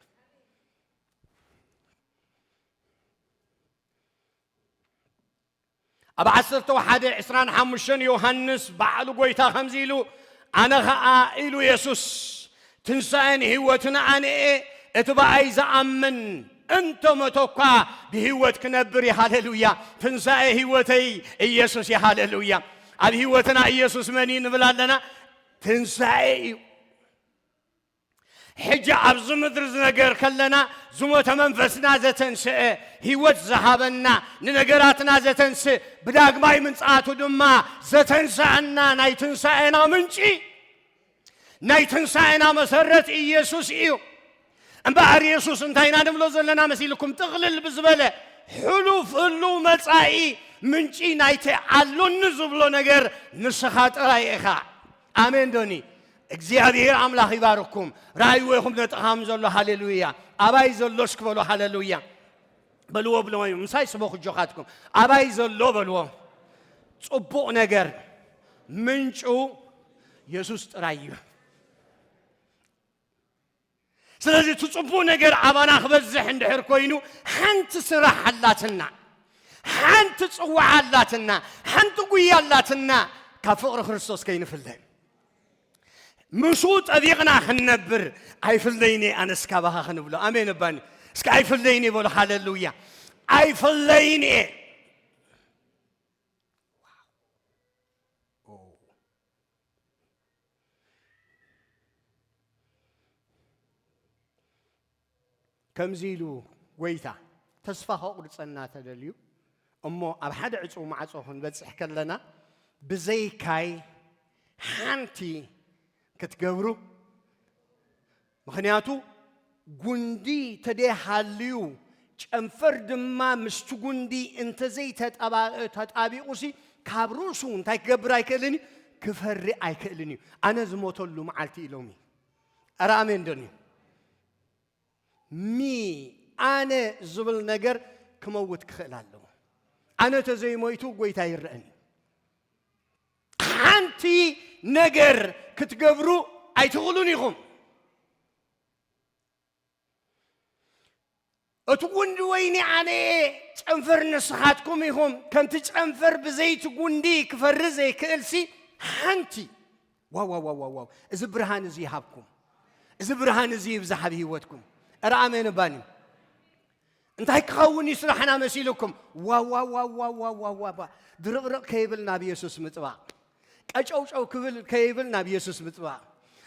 ኣብ ዓሰርተ ሓደ ዕስራን ሓሙሽተን ዮሃንስ ባዕሉ ጎይታ ከምዚ ኢሉ ኣነ ኸዓ ኢሉ የሱስ ትንሣኤን ህይወትን ኣነ እየ እቲ በኣይ ዝኣምን እንተ መቶ እኳ ብህይወት ክነብር እዩ ሃሌሉያ ትንሣኤ ህይወተይ ኢየሱስ እዩ ሃሌሉያ ኣብ ህይወትና ኢየሱስ መን እዩ ንብል ኣለና ትንሳኤ እዩ ሕጂ ኣብዚ ምድሪ ዝነገር ከለና ዝሞተ መንፈስና ዘተንስአ ህይወት ዝሃበና ንነገራትና ዘተንስእ ብዳግማይ ምንጻቱ ድማ ዘተንስኣና ናይ ትንሳኤና ምንጪ ናይ ትንሳኤና መሰረት ኢየሱስ እዩ እምበኣር የሱስ እንታይ ኢና ንብሎ ዘለና መሲልኩም ጥቕልል ብዝበለ ሕሉፍ ህሉው መጻኢ ምንጪ ናይቲ ኣሎኒ ዝብሎ ነገር ንስኻ ጥራይ ኢኻ ኣሜን ዶኒ እግዚኣብሔር ኣምላኽ ይባርኩም ራእይዎ ይኹም ነጥኻም ዘሎ ሃሌሉያ ኣባይ ዘሎ እስኪ በሎ ሃሌሉያ በልዎ ብልዎ ምሳይ ስበኹ ጆኻትኩም ኣባይ ዘሎ በልዎ ጽቡቕ ነገር ምንጩ የሱስ ጥራይ እዩ ስለዚ እቲ ጽቡቕ ነገር ኣባና ክበዝሕ እንድሕር ኮይኑ ሓንቲ ስራሕ ኣላትና፣ ሓንቲ ጽዋዓ ኣላትና፣ ሓንቲ ጉያ ኣላትና፣ ካብ ፍቕሪ ክርስቶስ ከይንፍለ ምስኡ ጠቢቕና ክንነብር ኣይፍለይኒ ኣነስ ካባኻ ክንብሎ ኣሜን እባኒ እስከ ኣይፍለይኒ በሎ ሃለሉያ ኣይፍለይኒ እየ ከምዚ ኢሉ ጐይታ ተስፋ ከቑርጸና ተደልዩ እሞ ኣብ ሓደ ዕጹው ማዕጾ ክንበጽሕ ከለና ብዘይካይ ሓንቲ ክትገብሩ ምኽንያቱ ጉንዲ ተደይ ሃልዩ ጨንፈር ድማ ምስቲ ጉንዲ እንተዘይ ተጣቢቑሲ ካብ ርእሱ እንታይ ክገብር ኣይክእልን እዩ ክፈሪ ኣይክእልን እዩ ኣነ ዝሞተሉ መዓልቲ እዩ ሎሚ ኣረ ኣሜን ደንዩ ሚ ኣነ ዝብል ነገር ክመውት ክኽእል ኣለዎ ኣነ ተዘይሞይቱ ጎይታ ይረአን እዩ ሓንቲ ነገር ክትገብሩ ኣይትኽእሉን ኢኹም። እቲ ጉንዲ ወይኒ ኣነ እየ ጨንፈር ንስኻትኩም ኢኹም ከምቲ ጨንፈር ብዘይቲ ጉንዲ ክፈሪ ዘይክእልሲ ሓንቲ ዋዋዋዋዋው እዚ ብርሃን እዚ ይሃብኩም እዚ ብርሃን እዚ ይብዛሕ ኣብ ህይወትኩም እረ ኣሜን ባኒ እንታይ ክኸውን እዩ ስራሕና መሲልኩም? ዋዋዋዋዋዋዋ ድርቕርቕ ከይብል ናብ የሱስ ምጥባቕ፣ ቀጨውጨው ክብል ከይብል ናብ የሱስ ምጥባቕ፣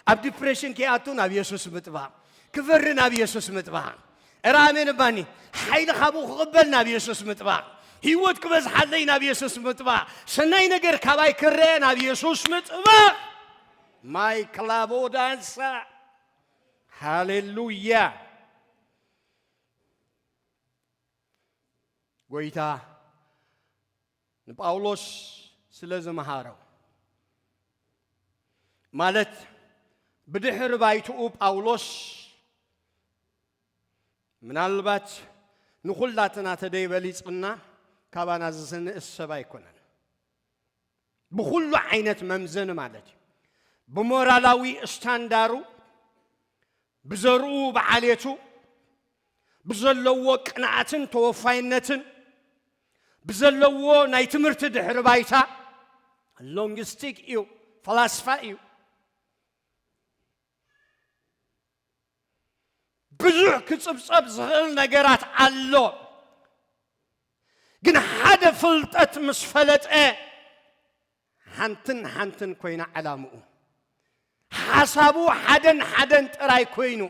ኣብ ዲፕሬሽን ከይኣቱ ናብ የሱስ ምጥባቕ፣ ክፈሪ ናብ የሱስ ምጥባቕ እረ ኣሜን እባኒ ሓይሊ ካብኡ ክቕበል ናብ የሱስ ምጥባቕ ህይወት ክበዝሓለይ ናብ የሱስ ምጥባቕ ሰናይ ነገር ካባይ ክረአ ናብ የሱስ ምጥባቕ ማይ ክላቦ ዳንሳ ሃሌሉያ ጎይታ ንጳውሎስ ስለ ዝመሃሮ ማለት ብድሕሪ ባይትኡ ጳውሎስ ምናልባት ንኹላትና ተደይበሊጽና ካባና ዝስንእስ ሰብ ኣይኮነን ብኹሉ ዓይነት መምዘኒ ማለት እዩ ብሞራላዊ ስታንዳሩ ብዘርኡ ብዓሌቱ ብዘለዎ ቅንኣትን ተወፋይነትን ብዘለዎ ናይ ትምህርቲ ድሕሪ ባይታ ሎንግስቲክ እዩ ፈላስፋ እዩ ብዙሕ ክፅብፀብ ዝኽእል ነገራት ኣሎ ግን ሓደ ፍልጠት ምስ ፈለጠ ሓንትን ሓንትን ኮይና ዕላምኡ ሓሳቡ ሓደን ሓደን ጥራይ ኮይኑ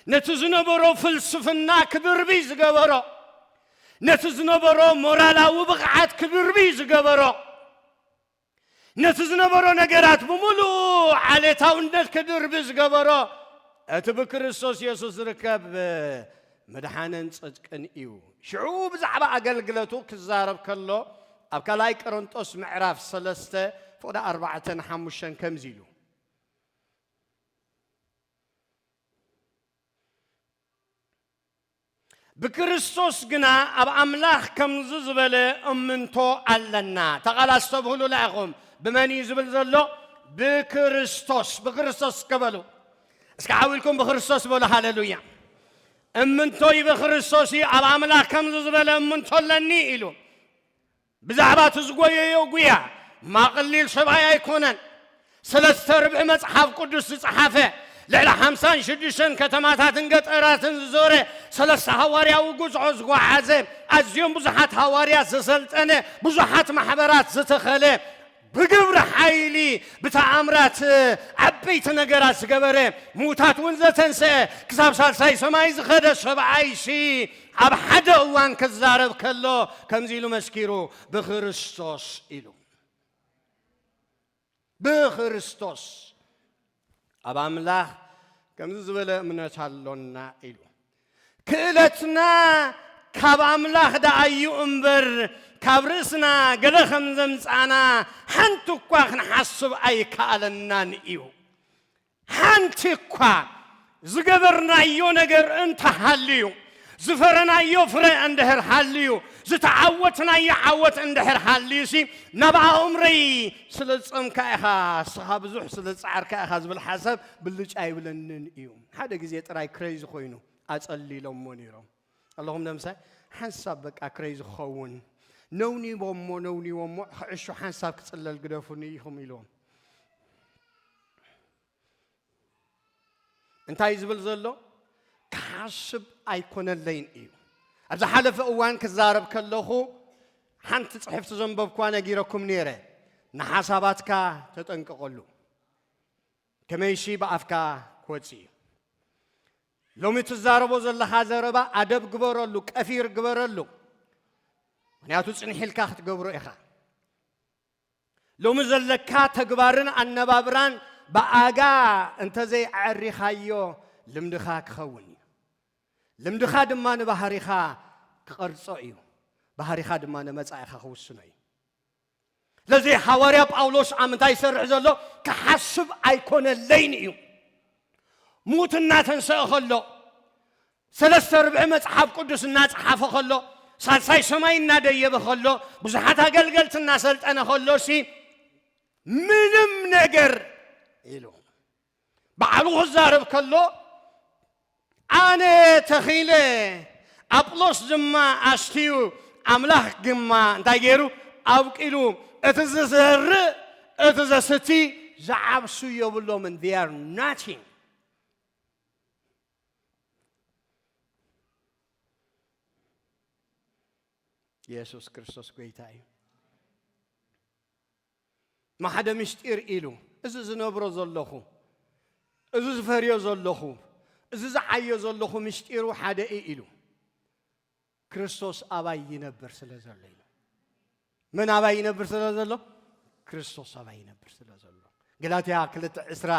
ነቲ ዝነበሮ ፍልስፍና ክብርብይ ዝገበሮ ነቲ ዝነበሮ ሞራላዊ ብቕዓት ክብርብይ ዝገበሮ ነቲ ዝነበሮ ነገራት ብምሉኡ ዓሌታውነት ክድርቢ ዝገበሮ እቲ ብክርስቶስ የሱስ ዝርከብ መድሓንን ጽድቅን እዩ። ሽዑ ብዛዕባ ኣገልግለቱ ክዛረብ ከሎ ኣብ ካልኣይ ቀረንጦስ ምዕራፍ ሰለስተ ፍቕዲ ኣርባዕተን ሓሙሽተን ከምዚ ኢሉ ብክርስቶስ ግና ኣብ ኣምላኽ ከምዚ ዝበለ እምንቶ ኣለና ተቓል ኣስተብህሉ ላኢኹም ብመን እዩ ዝብል ዘሎ ብክርስቶስ ብክርስቶስ ከበሉ እስከ ዓው ኢልኩም ብክርስቶስ በሉ ሃለሉያ። እምንቶይ ብክርስቶስ እዩ፣ ኣብ ኣምላኽ ከምዚ ዝበለ እምንቶ ኣለኒ ኢሉ ብዛዕባ እቲ ዝጎየዮ ጉያ ማቕሊል ሰብኣይ ኣይኮነን። ሰለስተ ርብዒ መጽሓፍ ቅዱስ ዝጸሓፈ ልዕሊ ሓምሳን ሽዱሽተን ከተማታትን ገጠራትን ዝዞረ ሰለስተ ሃዋርያዊ ጉዝዖ ዝጓዓዘ ኣዝዮም ብዙሓት ሃዋርያት ዘሰልጠነ ብዙሓት ማሕበራት ዝተኸለ ብግብሪ ሓይሊ ብተኣምራት ዓበይቲ ነገራት ዝገበረ፣ ምዉታት እውን ዘተንስአ፣ ክሳብ ሳልሳይ ሰማይ ዝኸደ ሰብኣይሲ ኣብ ሓደ እዋን ክዛረብ ከሎ ከምዚ ኢሉ መስኪሩ፣ ብክርስቶስ ኢሉ። ብክርስቶስ ኣብ ኣምላኽ ከምዚ ዝበለ እምነት ኣሎና ኢሉ ክእለትና ካብ ኣምላኽ ደኣ እዩ እምበር ካብ ርእስና ገለ ከም ዘምጻና ሓንቲ እኳ ክንሓስብ ኣይከኣለናን እዩ ሓንቲ እኳ ዝገበርናዮ ነገር እንተ ሃልዩ፣ ዝፈረናዮ ፍረ እንድሕር ሃልዩ፣ ዝተዓወትናዮ ዓወት እንድሕር ሃልዩሲ፣ ናብ ኣእምሮይ ስለ ዝጸምካ ኢኻ፣ እስኻ ብዙሕ ስለ ዝጸዓርካ ኢኻ ዝብል ሓሳብ ብልጭ ኣይብለንን እዩ። ሓደ ግዜ ጥራይ ክረይዚ ኮይኑ ኣጸሊሎሞ ነይሮም። ኣለኹም ደምሳይ ሓንሳብ በቃ ክረይዚ ክኸውን ነውኒቦሞ ነውኒቦሞ ክዕሾ ሓንሳብ ክጽለል ግደፉኒ ኢኹም ኢልዎም። እንታይ ዝብል ዘሎ ክሓስብ ኣይኮነለይን እዩ ኣብ ዝሓለፈ እዋን ክዛረብ ከለኹ ሓንቲ ፅሕፍቲ ዘንበብኳ ነጊረኩም ነይረ ንሓሳባትካ ተጠንቀቐሉ ከመይሲ ብኣፍካ ክወፅ እዩ ሎሚ ትዛረቦ ዘለኻ ዘረባ ኣደብ ግበረሉ ቀፊር ግበረሉ ምክንያቱ ፅንሒልካ ክትገብሮ ኢኻ ሎሚ ዘለካ ተግባርን ኣነባብራን ብኣጋ እንተዘይ ኣዐሪኻዮ ልምድኻ ክኸውን እዩ። ልምድኻ ድማ ንባህሪኻ ክቐርጾ እዩ። ባህሪኻ ድማ ንመጻኢኻ ክውስኖ እዩ። ስለዚ ሃዋርያ ጳውሎስ ኣብ ምንታይ ይሰርሕ ዘሎ ክሓስብ ኣይኮነለይን እዩ። ሙት እናተንሰእ ከሎ ሰለስተ ርብዒ መጽሓፍ ቅዱስ እናጸሓፈ ኸሎ፣ ሳልሳይ ሰማይ እናደየበ ኸሎ፣ ብዙሓት ኣገልገልቲ እናሰልጠነ ኸሎሲ ምንም ነገር ኢሉ ባዕሉ ክዛረብ ከሎ ኣነ ተኺለ ኣጵሎስ ድማ ኣስትዩ ኣምላኽ ግማ እንታይ ገይሩ ኣብቂሉ እቲ ዝዘርእ እቲ ዘስቲ ዝዓብሱ የብሎምን ር ናቲንግ ኢየሱስ ክርስቶስ ጎይታ እዩ ማሓደ ምስጢር ኢሉ እዚ ዝነብሮ ዘለኹ እዚ ዝፈርዮ ዘለኹ እዚ ዝዓዮ ዘለኹ ምስጢሩ ሓደ እዩ ኢሉ ክርስቶስ ኣባይ ይነብር ስለ ዘሎ እዩ። መን ኣባይ ይነብር ስለ ዘሎ? ክርስቶስ ኣባይ ይነብር ስለ ዘሎ። ገላትያ ክልተ ዕስራ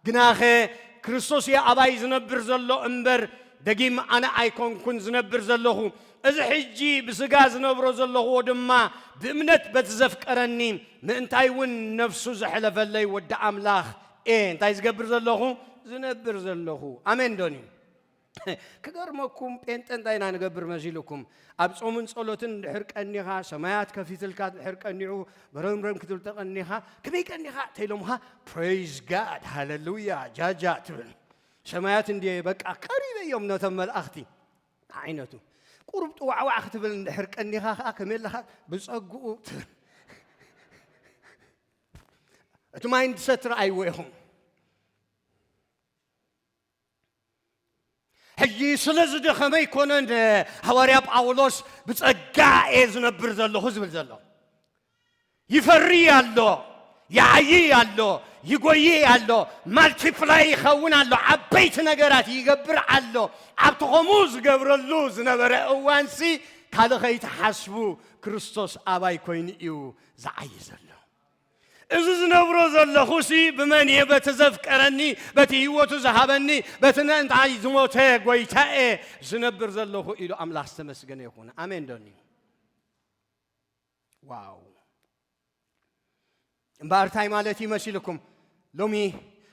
ግናኸ ክርስቶስ እየ ኣባይ ዝነብር ዘሎ እምበር ደጊም ኣነ ኣይኮንኩን ዝነብር ዘለኹ እዚ ሕጂ ብስጋ ዝነብሮ ዘለኹዎ ድማ ብእምነት በቲ ዘፍቀረኒ ምእንታይ እውን ነፍሱ ዘሕለፈለይ ወዲ ኣምላኽ እየ እንታይ ዝገብር ዘለኹ ዝነብር ዘለኹ ኣሜን ዶን እዩ ክገርመኩም ጴንጠ እንታይ ኢና ንገብር መሲልኩም ኣብ ጾምን ጸሎትን ድሕር ቀኒኻ ሰማያት ከፊትልካ ድሕር ቀኒዑ በረምረም ክትብል ተቐኒኻ ከመይ ቀኒኻ ተኢሎምኻ ፕሬይዝ ጋድ ሃለሉያ ጃጃ ትብል ሰማያት እንድየ በቃ ቀሪበ እዮም ነቶም መልኣኽቲ ዓይነቱ ቁሩብ ጥዋዕዋዕ ክትብል እንድሕር ቀኒኻ ከዓ ከመይ ኣለኻ ብፀግኡ ትብል እቲ ማይንድሰት ረኣይዎ ኢኹም ሕጂ ስለ ዝደኸመ ኣይኮነን ሃዋርያ ጳውሎስ ብጸጋ እየ ዝነብር ዘለኹ ዝብል ዘሎ ይፈሪ ኣሎ ይዓይይ ኣሎ ይጎይይ ኣሎ ማልቲፕላይ ይኸውን ኣሎ ዓበይቲ ነገራት ይገብር ኣሎ ኣብቲ ከምኡ ዝገብረሉ ዝነበረ እዋንሲ ካልእ ከይትሓስቡ ክርስቶስ ኣባይ ኮይኑ እዩ ዝዓይ ዘሎ እዚ ዝነብሮ ዘለኹሲ ብመን እየ? በቲ ዘፍቀረኒ፣ በቲ ህይወቱ ዝሃበኒ፣ በቲ ምእንታይ ዝሞተ ጐይታ እየ ዝነብር ዘለኹ ኢሉ ኣምላኽ ዝተመስገነ ይኹን። ኣሜን ዶኒ ዋው እምበኣር እንታይ ማለት እዩ መሲልኩም ሎሚ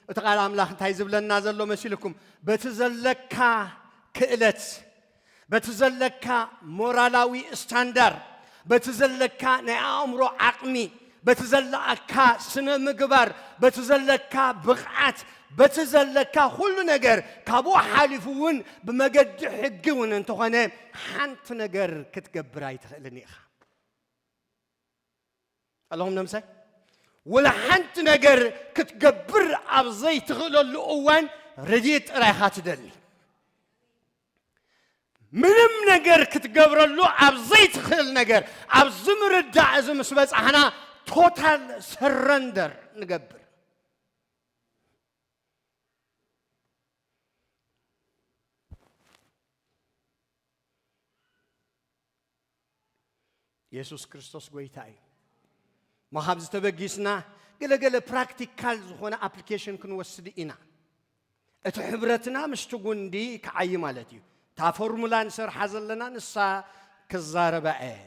እቲ ቓል ኣምላኽ እንታይ ዝብለና ዘሎ መሲልኩም? በቲ ዘለካ ክእለት፣ በቲ ዘለካ ሞራላዊ ስታንዳር፣ በቲ ዘለካ ናይ ኣእምሮ ዓቕሚ፣ በቲ ዘለካ ስነ ምግባር፣ በቲ ዘለካ ብቕዓት፣ በቲ ዘለካ ኩሉ ነገር ካብኡ ሓሊፉ እውን ብመገዲ ሕጊ እውን እንተኾነ ሓንቲ ነገር ክትገብር ኣይትኽእልን ኢኻ። ኣለኹም ነምሳይ ወላ ሓንቲ ነገር ክትገብር ኣብ ዘይትኽእለሉ እዋን ረድኤት ጥራይ ኢኻ ትደሊ ምንም ነገር ክትገብረሉ ኣብ ዘይትኽእል ነገር ኣብዚ ምርዳእ እዚ ምስ በፃሕና ቶታል ሰረንደር ንገብር የሱስ ክርስቶስ ጎይታ እዩ እሞ ካብ ዝተበጊስና ገለገለ ፕራክቲካል ዝኾነ ኣፕሊኬሽን ክንወስድ ኢና እቲ ሕብረትና ምስቲ ጉንዲ ክዓይ ማለት እዩ እታ ፎርሙላ ንሰርሓ ዘለና ንሳ ክዛረባ እየ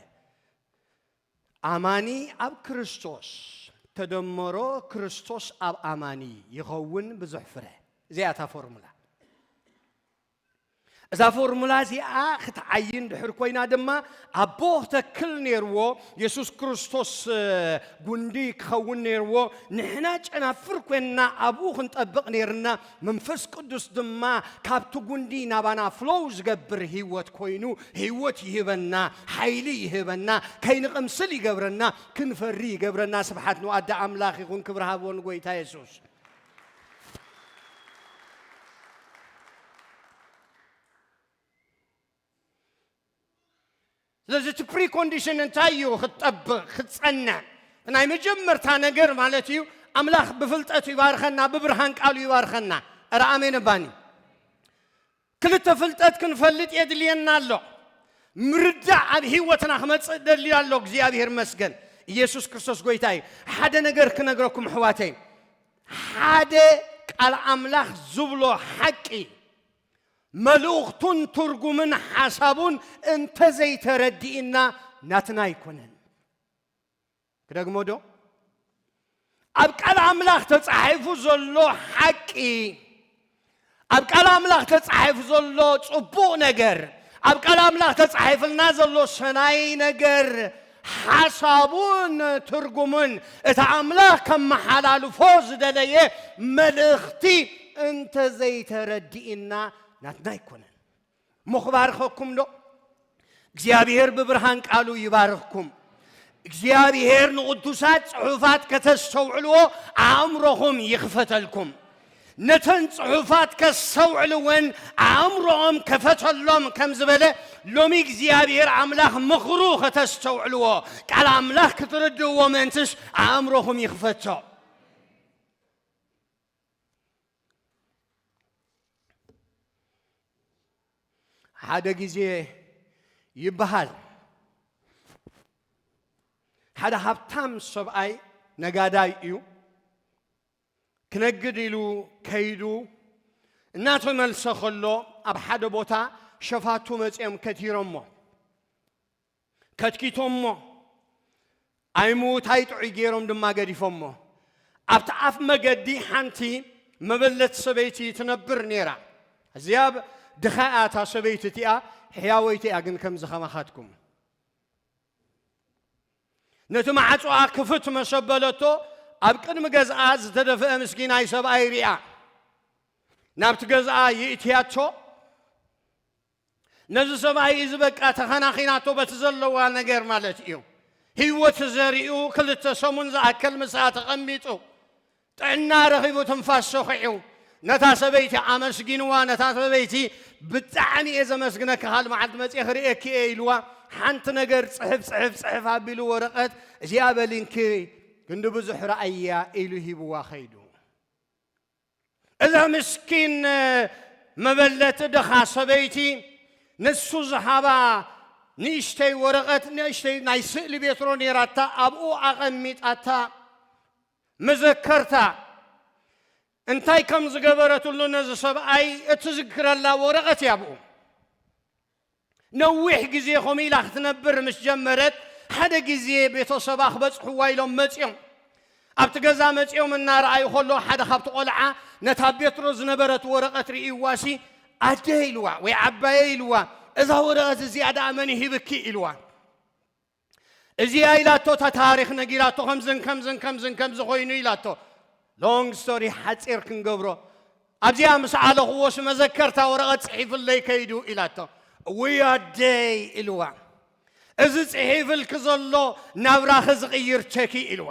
ኣማኒ ኣብ ክርስቶስ ተደመሮ ክርስቶስ ኣብ ኣማኒ ይኸውን ብዙሕ ፍረ እዚኣ እታ ፎርሙላ እዛ ፎርሙላ እዚኣ ክትዓዪ እንድሕር ኮይና ድማ ኣቦ ክተክል ነይርዎ የሱስ ክርስቶስ ጉንዲ ክኸውን ነይርዎ ንሕና ጨናፍር ኮይንና ኣብኡ ክንጠብቕ ነይርና መንፈስ ቅዱስ ድማ ካብቲ ጉንዲ ናባና ፍሎው ዝገብር ህይወት ኮይኑ ህይወት ይህበና ሓይሊ ይህበና ከይንቕምስል ይገብረና ክንፈሪ ይገብረና ስብሓት ንዋዳ ኣምላኽ ይኹን ክብሪ ሃቦ ንጎይታ የሱስ ስለዚ እቲ ፕሪኮንዲሽን እንታይ እዩ ክጠብቕ ክፀንዕ ናይ መጀመርታ ነገር ማለት እዩ ኣምላኽ ብፍልጠት ይባርኸና ብብርሃን ቃሉ ይባርኸና ኧረ ኣሜን ባኒ ክልተ ፍልጠት ክንፈልጥ የድልየና ኣሎ። ምርዳእ ኣብ ህይወትና ክመጽእ ደልዩ ኣሎ እግዚኣብሔር ይመስገን ኢየሱስ ክርስቶስ ጎይታ እዩ። ሓደ ነገር ክነግረኩም ኣሕዋተይ ሓደ ቃል ኣምላኽ ዝብሎ ሓቂ መልእኽቱን ትርጉምን ሓሳቡን እንተዘይተረዲእና ናትና ኣይኮነን። ክደግሞ ዶ? ኣብ ቃል ኣምላኽ ተጻሒፉ ዘሎ ሓቂ፣ ኣብ ቃል ኣምላኽ ተጻሒፉ ዘሎ ጽቡቕ ነገር፣ ኣብ ቃል ኣምላኽ ተጻሒፍልና ዘሎ ሰናይ ነገር ሓሳቡን ትርጉሙን እቲ ኣምላኽ ከመሓላልፎ ዝደለየ መልእኽቲ እንተዘይተረዲእና ናትና ኣይኮነን። እሞ ክባርኸኩም ዶ እግዚኣብሄር ብብርሃን ቃሉ ይባርኽኩም እግዚኣብሄር ንቕዱሳት ጽሑፋት ከተስተውዕልዎ ኣእምሮኹም ይኽፈተልኩም ነተን ጽሑፋት ከስተውዕልወን ኣእምሮኦም ከፈተሎም ከም ዝበለ ሎሚ እግዚኣብሄር ኣምላኽ ምኽሩ ከተስተውዕልዎ ቃል ኣምላኽ ክትርድእዎ ምእንትስ ኣእምሮኹም ይኽፈቶ ሓደ ግዜ ይበሃል ሓደ ሃብታም ሰብኣይ ነጋዳይ እዩ ክነግድ ኢሉ ከይዱ እናተመልሰ ከሎ ኣብ ሓደ ቦታ ሸፋቱ መፅኦም ከቲሮሞ ከትኪቶሞ፣ ኣይ ምዉታይ ጥዑይ ገይሮም ድማ ገዲፎሞ። ኣብቲ ኣፍ መገዲ ሓንቲ መበለት ሰበይቲ ትነብር ነይራ። ኣዝያ ድኻ እያ እታ ሰበይቲ እቲኣ፣ ሕያወይቲ እያ ግን ከምዚ ከማኻትኩም። ነቲ ማዕጾኣ ክፍት መሰ በለቶ፣ ኣብ ቅድሚ ገዝኣ ዝተደፍአ ምስኪናይ ሰብኣይ ሪኣ ናብቲ ገዝኣ ይእትያቶ ነዚ ሰብኣይ እዚ በቃ ተኸናኺናቶ በቲ ዘለዋ ነገር ማለት እዩ ህይወት ዘሪኡ ክልተ ሰሙን ዝኣከል ምስኣ ተቐሚጡ ጥዕና ረኺቡ ትንፋስ ሰኺዑ ነታ ሰበይቲ ኣመስጊንዋ ነታ ሰበይቲ ብጣዕሚ እየ ዘመስግነኪ ካልእ መዓልቲ መፅየ ክርእየኪ እየ ኢልዋ ሓንቲ ነገር ፅሕፍ ፅሕፍ ፅሕፍ ኣቢሉ ወረቐት እዚኣ በሊንኪ ክንዲ ብዙሕ ረኣያ ኢሉ ሂብዋ ከይዱ እዛ ምስኪን መበለት ድኻ ሰበይቲ ንሱ ዝሃባ ንእሽተይ ወረቐት ንእሽተይ ናይ ስእሊ ቤትሮ ነይራታ ኣብኡ ኣቐሚጣታ መዘከርታ እንታይ ከም ዝገበረትሉ ነዚ ሰብኣይ እትዝክረላ ወረቐት እያ ኣብኡ ነዊሕ ግዜ ከምኡ ኢላ ክትነብር ምስ ጀመረት፣ ሓደ ግዜ ቤተሰባ ክበጽሕዋ ኢሎም መጺኦም። ኣብቲ ገዛ መጺኦም እናረኣዩ ከለዉ ሓደ ካብቲ ቆልዓ ነታ ኣብ ቤትሮ ዝነበረት ወረቐት ርእይዋሲ፣ ኣደ ኢልዋ ወይ ዓባየይ ኢልዋ፣ እዛ ወረቐት እዚኣ ደኣ መን ሂብኪ? ኢልዋ። እዚኣ ኢላቶ እታ ታሪኽ ነጊራቶ ከምዝን ከምዝን ከምዝን ከምዚ ኮይኑ ኢላቶ ሎንግ ስቶሪ ሓፂር ክንገብሮ ኣብዚኣ ምስ ዓለኽዎስ መዘከርታ ወረቐት ፅሒፍለይ ከይዱ ኢላቶ እውይ ኣደይ ኢልዋ እዚ ፅሒፍልኪ ዘሎ ናብራኺ ዝቕይር ቸኪ ኢልዋ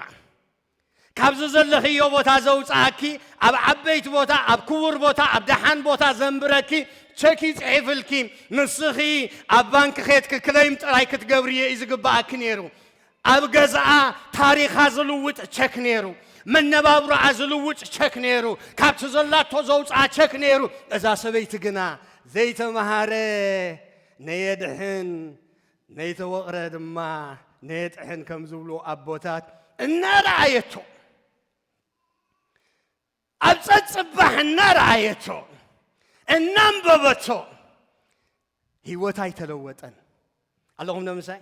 ካብዚ ዘለኽዮ ቦታ ዘውጽኣኪ ኣብ ዓበይቲ ቦታ ኣብ ክቡር ቦታ ኣብ ደሓን ቦታ ዘንብረኪ ቸክ ይጽሒፍልኪ ንስኺ ኣብ ባንኪ ኬትኪ ክለይም ጥራይ ክትገብርዮ እዩ ዝግብኣኪ ነይሩ ኣብ ገዝኣ ታሪኻ ዝልውጥ ቸክ ነይሩ መነባብሮኣ ዝልውጥ ቸክ ነይሩ ካብቲ ዘላቶ ዘውፅኣ ቸክ ነይሩ እዛ ሰበይቲ ግና ዘይተምሃረ ነየድሕን ነይተወቕረ ድማ ነየጥሕን ከም ዝብሉ ኣቦታት እናረኣየቶ ኣብ ጸጽባሕ እናረኣየቶ እናንበበቶ ህይወት ኣይተለወጠን ኣለኹም ዶ ምሳይ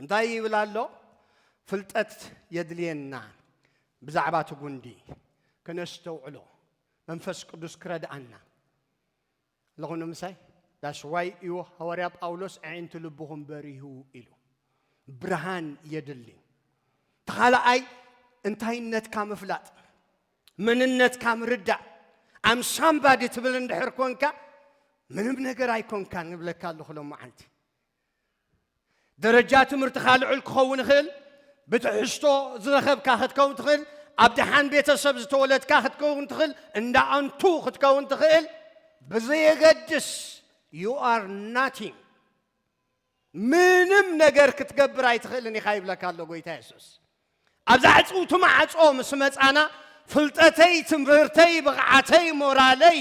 እንታይ ይብል ኣሎ? ፍልጠት የድልየና ብዛዕባ እቲ ጉንዲ ከነስተውዕሎ መንፈስ ቅዱስ ክረድኣና ኣለኹኑ ምሳይ ዳሽዋይ እዩ ሃዋርያ ጳውሎስ ኣዒንቲ ልብኹም በሪሁ ኢሉ ብርሃን የድሊ ተኻልኣይ እንታይነትካ ምፍላጥ መንነትካ ምርዳእ ኣምሳምባዲ ትብል እንድሕር ኮንካ ምንም ነገር ኣይኮንካን ንብለካ ኣለኹ ሎ መዓልቲ ደረጃ ትምህርትኻ ልዑል ክኸውን ይኽእል፣ ብትሕዝቶ ዝረኸብካ ክትከውን ትኽእል፣ ኣብ ደሓን ቤተሰብ ዝተወለድካ ክትከውን ትኽእል፣ እንዳ ኣንቱ ክትከውን ትኽእል፣ ብዘየገድስ you are nothing ምንም ነገር ክትገብር ኣይትኽእልን ኢኻ ይብለካ ኣሎ ጎይታ የሱስ። ኣብዛ ዕጽውቲ ማዕጾ ምስ መጻና ፍልጠተይ፣ ትምህርተይ፣ ብቕዓተይ፣ ሞራለይ፣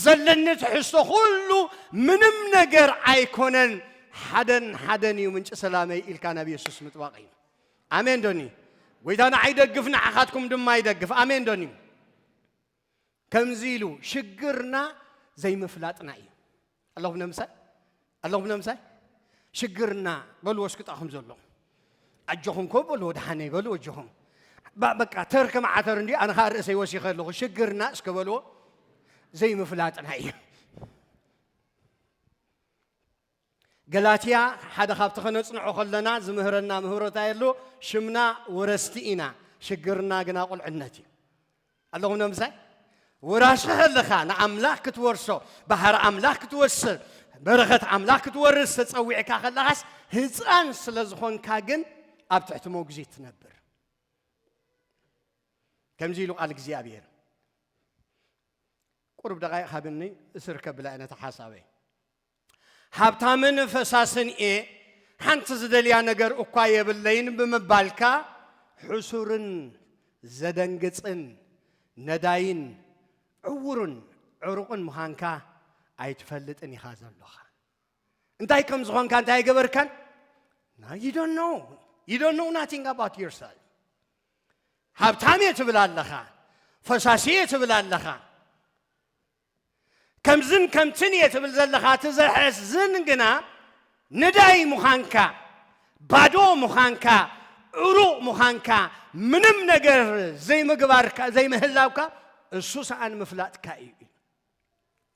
ዘለኒ ትሕዝቶ ኩሉ ምንም ነገር ኣይኮነን ሓደን ሓደን እዩ ምንጪ ሰላመይ ኢልካ ናብ የሱስ ምጥባቕ እዩ። ኣሜን ዶኒ ጎይታ ንዓይ ደግፍ ንዓኻትኩም ድማ ይደግፍ። ኣሜን ዶኒ ከምዚ ኢሉ ሽግርና ዘይምፍላጥና እዩ ኣለኹም ነምሳይ ኣለኹም ነምሳይ ሽግርና በልዎ እስኪ ጣኹም ዘሎ ኣጆኹም ኮ በልዎ ደሓነይ በልዎ ኣጆኹም በቃ ተር ከም ዓተር እንዲ ኣነ ከዓ ርእሰይ ወሲኸ ኣለኹ ሽግርና እስከ በልዎ ዘይምፍላጥና እዩ ገላትያ ሓደ ካብቲ ከነጽንዖ ከለና ዝምህረና ምህሮ እንታይ ኣሉ ሽምና ወረስቲ ኢና ሽግርና ግና ቁልዕነት እዩ ኣለኹም ዶ ምሳይ ወራሲ ከለኻ ንኣምላኽ ክትወርሶ ባህሪ ኣምላኽ ክትወስር በረኸት ኣምላኽ ክትወርስ ተጸዊዕካ ከለኻስ ህፃን ስለ ዝኾንካ ግን ኣብ ትሕቲ መጉዚት ትነብር ከምዚ ኢሉ ቃል እግዚኣብሔር ቁርብ ደቃይቅ ሃብኒ እስርከብ ብላ ነታ ሓሳበይ ሃብታምን ፈሳስን እየ፣ ሓንቲ ዝደልያ ነገር እኳ የብለይን ብምባልካ ሕሱርን ዘደንግጽን ነዳይን ዕዉርን ዕሩቕን ምዃንካ ኣይትፈልጥን ኢኻ ዘሎኻ። እንታይ ከም ዝኾንካ እንታይ ኣይገበርካን? Now you don't know. You don't know nothing about yourself. ሃብታም እየ ትብል ኣለኻ፣ ፈሳሲ እየ ትብል ኣለኻ። ከምዝን ከምትን እየ ትብል ዘለኻ እቲ ዘሕዝን ግና ነዳይ ምዃንካ ባዶ ምዃንካ ዕሩቕ ምዃንካ ምንም ነገር ዘይምግባርካ ዘይምህላውካ እሱ ሰኣን ምፍላጥካ እዩ ኢሉ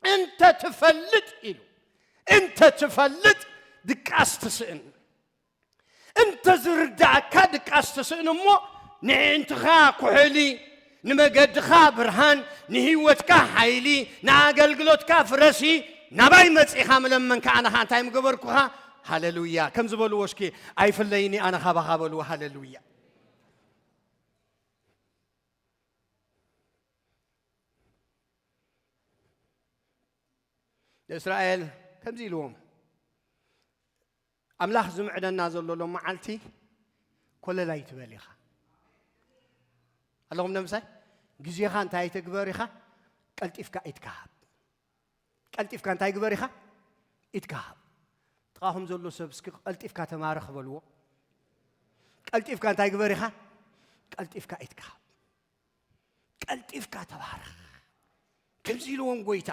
እንተ ትፈልጥ ኢሉ እንተ ትፈልጥ ድቃስ ትስእን እንተ ዝርድኣካ ድቃስ ትስእን እሞ ንዒንትኻ ኩሕሊ፣ ንመገድኻ ብርሃን፣ ንህይወትካ ሓይሊ፣ ንኣገልግሎትካ ፍረ ሲ ናባይ መጺኻ ምለመንካ ኣነ ኸኣ እንታይ ምገበርኩኻ ሃለሉያ ከም ዝበልዎ እስኪ ኣይፍለይኒ ኣነ ካባኻ በልዎ ሃለሉያ ንእስራኤል ከምዚ ኢልዎም ኣምላኽ ዝምዕደና ዘሎ ሎ መዓልቲ ኮለል ኣይትበል ኢኻ ኣለኹም ነምሳይ ግዜኻ እንታይ ኣይተግበር ኢኻ ቀልጢፍካ ኢትካሃብ ቀልጢፍካ እንታይ ግበር ኢኻ ኢትካሃብ ጥቓኹም ዘሎ ሰብ እስኪ ቀልጢፍካ ተማረ ክበልዎ ቀልጢፍካ እንታይ ግበር ኢኻ ቀልጢፍካ ኢትካሃብ ቀልጢፍካ ተባረኽ ከምዚ ኢልዎም ጎይታ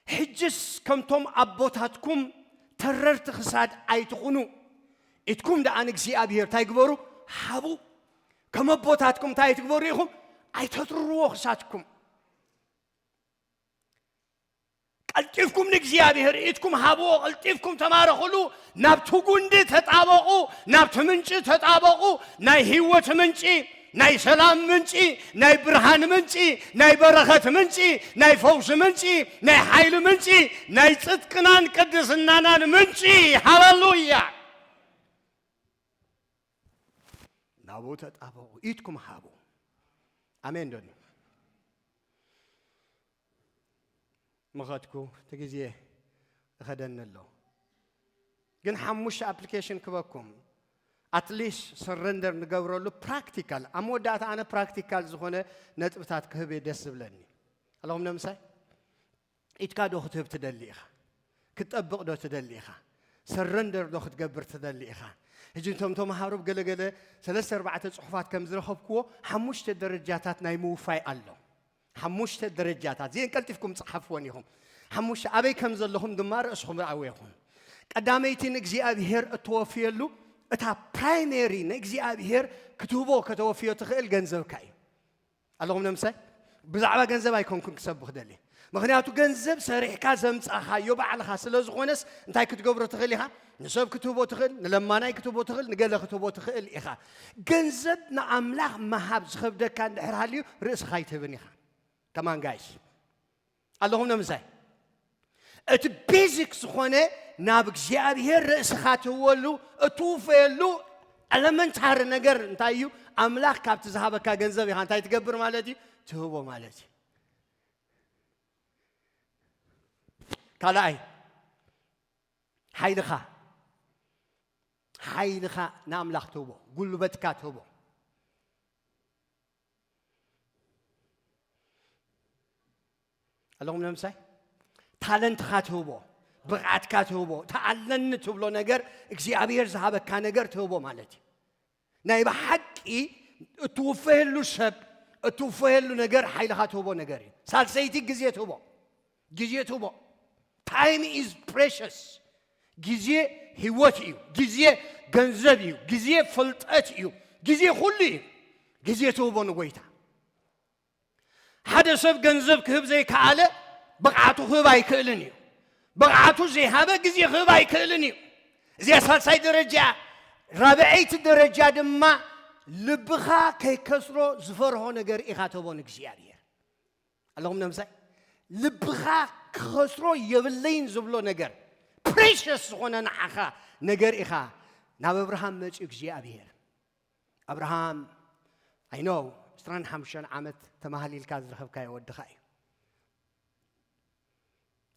ሕጅስ ከምቶም ኣቦታትኩም ተረርቲ ክሳድ ኣይትኹኑ፣ ኢትኩም ደኣ ንእግዚኣብሄር እንታይ ግበሩ? ሃቡ። ከም ኣቦታትኩም እንታይ ኣይትግበሩ ኢኹም? ኣይተትርርዎ ክሳድኩም። ቀልጢፍኩም ንእግዚኣብሔር ኢትኩም ሃብዎ ቀልጢፍኩም ተማረኽሉ ናብቲ ጉንዲ ተጣበቑ ናብቲ ምንጪ ተጣበቑ ናይ ህይወት ምንጪ ናይ ሰላም ምንጪ፣ ናይ ብርሃን ምንጪ፣ ናይ በረኸት ምንጪ፣ ናይ ፈውሲ ምንጪ፣ ናይ ሓይሊ ምንጪ፣ ናይ ጽድቅናን ቅድስናናን ምንጪ። ሃለሉያ! ናብኡ ተጣበቑ፣ ኢድኩም ሃቡ። ኣሜን ዶ ምኸድኩ እቲ ግዜ እኸደኒ ኣሎ ግን ሓሙሽተ ኣፕሊኬሽን ክበኩም ኣትሊስት ሰረንደር ንገብረሉ ፕራክቲካል ኣብ መወዳእታ ኣነ ፕራክቲካል ዝኾነ ነጥብታት ክህብ እየ ደስ ዝብለኒ ኣለኹም ነምሳይ ኢድካ ዶ ክትህብ ትደሊ ኢኻ ክትጠብቕ ዶ ትደሊ ኢኻ ሰረንደር ዶ ክትገብር ትደሊ ኢኻ ሕጂ እቶም ተምሃሮ ገለገለ ሰለስተ ኣርባዕተ ፅሑፋት ከም ዝረኸብክዎ ሓሙሽተ ደረጃታት ናይ ምውፋይ ኣሎ ሓሙሽተ ደረጃታት እዚኤን ቀልጢፍኩም ጸሓፍወን ኢኹም። ሓሙሽተ ኣበይ ከም ዘለኹም ድማ ርእስኹም ርኣዎ ኢኹም። ቀዳመይቲ ንእግዚኣብሄር እተወፍየሉ እታ ፕራይሜሪ ንእግዚኣብሄር ክትህቦ ከተወፍዮ ትኽእል ገንዘብካ እዩ። ኣለኹም ነምሳይ ብዛዕባ ገንዘብ ኣይኮንኩን ክሰብኽ ደልየ ምክንያቱ ገንዘብ ሰሪሕካ ዘምጻኻዮ ባዕልኻ ስለ ዝኾነስ እንታይ ክትገብሮ ትኽእል ኢኻ ንሰብ ክትህቦ ትኽእል፣ ንለማናይ ክትህቦ ትኽእል፣ ንገለ ክትህቦ ትኽእል ኢኻ። ገንዘብ ንኣምላኽ ምሃብ ዝኸብደካ እንድሕር ሃልዩ ርእስኻ ኣይትህብን ኢኻ። ከማን ጋይስ ኣለኹም ነምሳይ እቲ ቤዚክ ዝኾነ ናብ እግዚኣብሔር ርእስኻ ትህወሉ እትውፈየሉ ኤለመንታሪ ነገር እንታይ እዩ? ኣምላኽ ካብቲ ዝሃበካ ገንዘብ ኢኻ እንታይ ትገብር ማለት እዩ? ትህቦ ማለት እዩ። ካልኣይ ሓይልኻ ሓይልኻ ንኣምላኽ ትህቦ ጉልበትካ ትህቦ ኣለኹም ንምሳይ ታለንትኻ ትህቦ ብቕዓትካ ትህቦ ተኣለኒ ትብሎ ነገር እግዚኣብሔር ዝሃበካ ነገር ትህቦ ማለት እዩ ናይ ብሓቂ እትውፈየሉ ሰብ እትውፈየሉ ነገር ሓይልኻ ትህቦ ነገር እዩ ሳልሰይቲ ግዜ ትህቦ ግዜ ትህቦ ታይም ኢዝ ፕሬሽስ ግዜ ህይወት እዩ ግዜ ገንዘብ እዩ ግዜ ፍልጠት እዩ ግዜ ኩሉ እዩ ግዜ ትህቦ ንጎይታ ሓደ ሰብ ገንዘብ ክህብ ዘይከኣለ ብቕዓቱ ክህብ ኣይክእልን እዩ ብቕዓቱ ዘይሃበ ግዜ ክህብ ኣይክእልን እዩ እዚኣ ሳልሳይ ደረጃ እያ ራብዐይቲ ደረጃ ድማ ልብኻ ከይከስሮ ዝፈርሆ ነገር ኢኻ ተቦ ንእግዚኣብሔር ኣለኹም ነምሳይ ልብኻ ክኸስሮ የብለይን ዝብሎ ነገር ፕሬሽስ ዝኾነ ንዓኻ ነገር ኢኻ ናብ ኣብርሃም መፅኡ እግዚኣብሔር ኣብርሃም ኣይ ኖው ዕስራን ሓሙሽተን ዓመት ተማሃሊልካ ዝረኸብካዮ ወድኻ እዩ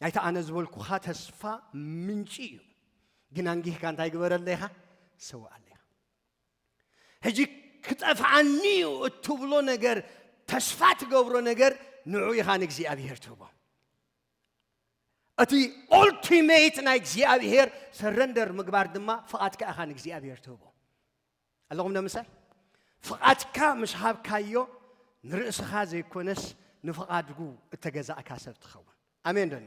ናይቲ ኣነ ዝበልኩኻ ተስፋ ምንጪ እዩ ግን ኣንጊህካ እንታይ ግበረለይ ኢኻ ሰውኣለይ ኢኻ ሕጂ ክጠፍዓኒ እዩ እትብሎ ነገር ተስፋ ትገብሮ ነገር ንዑ ኢኻ ንእግዚኣብሄር ትህቦ እቲ ኦልቲሜት ናይ እግዚኣብሄር ሰረንደር ምግባር ድማ ፍቓድካ ኢኻ ንእግዚኣብሄር ትህቦ ኣለኹም ንምሳይ ፍቓድካ ምስ ሃብካዮ ንርእስኻ ዘይኮነስ ንፍቓድጉ እተገዛእካ ሰብ ትኸውን ኣሜን ደኒ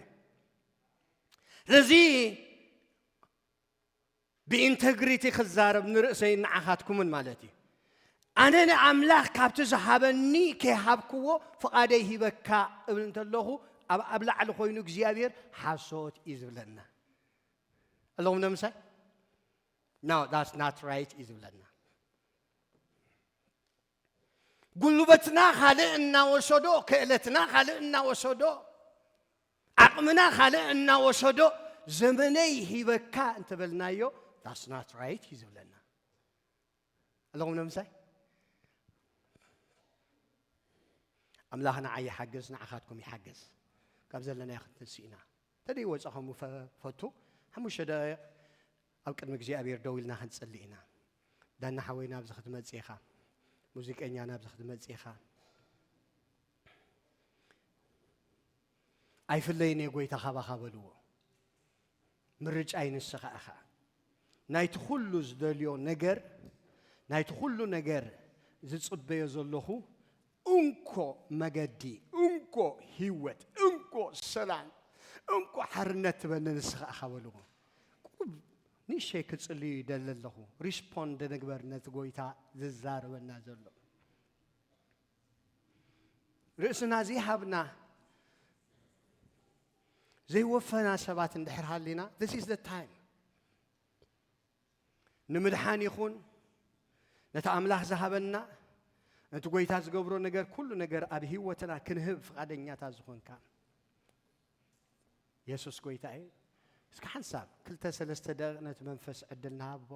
ስለዚ ብኢንተግሪቲ ክዛረብ ንርእሰይን ንዓኻትኩምን ማለት እዩ ኣነ ንኣምላኽ ካብቲ ዝሃበኒ ከይሃብክዎ ፍቓደይ ሂበካ እብል እንተለኹ ኣብ ኣብ ላዕሊ ኮይኑ እግዚኣብሔር ሓሶት እዩ ዝብለና ኣለኹም ነምሳይ ናው ዳስ ናት ራይት እዩ ዝብለና ጉልበትና ካልእ እናወሰዶ፣ ክእለትና ካልእ እናወሰዶ፣ ዓቕምና ካልእ እናወሰዶ ዘመነይ ሂበካ እንተበልናዮ ዳስ ናት ራይት እዩ ዝብለና ኣለኹም ንምሳይ ኣምላኽ ንዓይ ይሓግዝ ንዓኻትኩም ይሓግዝ ካብ ዘለናዮ ክንትንስእ ኢና ተደይ ወፃኹም ፈቱ ሓሙሽተ ደቂቕ ኣብ ቅድሚ እግዚኣብሔር ደው ኢልና ክንጽሊ ኢና። ዳና ሓወይ ናብዚ ክትመጽእ ኢኻ። ሙዚቀኛ ናብዚ ክትመጽእ ኢኻ። ኣይፍለይን እየ ጎይታ ካባኻ በልዎ። ምርጫይ ንስኻ ኢኻ። ናይቲ ኩሉ ዝደልዮ ነገር ናይቲ ኩሉ ነገር ዝጽበዮ ዘለኹ እንኮ መገዲ እንኮ ሂወት እንኮ ሰላም እንኮ ሓርነት ትበኒ ንስኻ ኢኻ በልዎ። ቁሩብ ንእሸተይ ክጽልዩ ይደሊ ኣለኹ ሪስፖንድ ንግበር ነቲ ጎይታ ዝዛረበና ዘሎ። ርእስና ዘይሃብና ዘይወፈና ሰባት እንድሕር ሃሊና this is the time። ንምድሓን ይኹን ነቲ ኣምላኽ ዝሃበና ነቲ ጎይታ ዝገብሮ ነገር ኩሉ ነገር ኣብ ህይወትና ክንህብ ፍቓደኛታት ዝኾንካ የሱስ ጎይታ እዩ እስኪ ሓንሳብ ክልተ ሰለስተ ደቂቕ ነቲ መንፈስ ዕድል ንሃቦ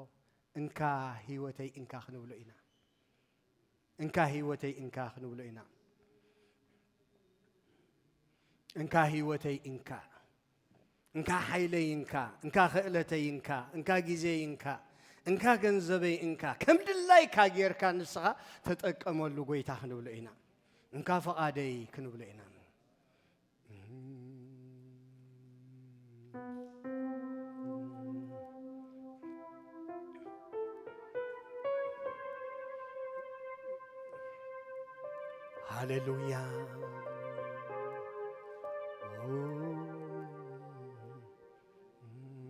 እንካ ህይወተይ እንካ ክንብሎ ኢና እንካ ህይወተይ እንካ ክንብሎ ኢና እንካ ህይወተይ እንካ እንካ ሓይለይ እንካ እንካ ክእለተይ እንካ እንካ ግዜይ እንካ እንካ ገንዘበይ እንካ ከም ድላይካ ጌርካ ንስኻ ተጠቀመሉ ጎይታ ክንብሎ ኢና እንካ ፈቓደይ ክንብሎ ኢና ሃሌሉያ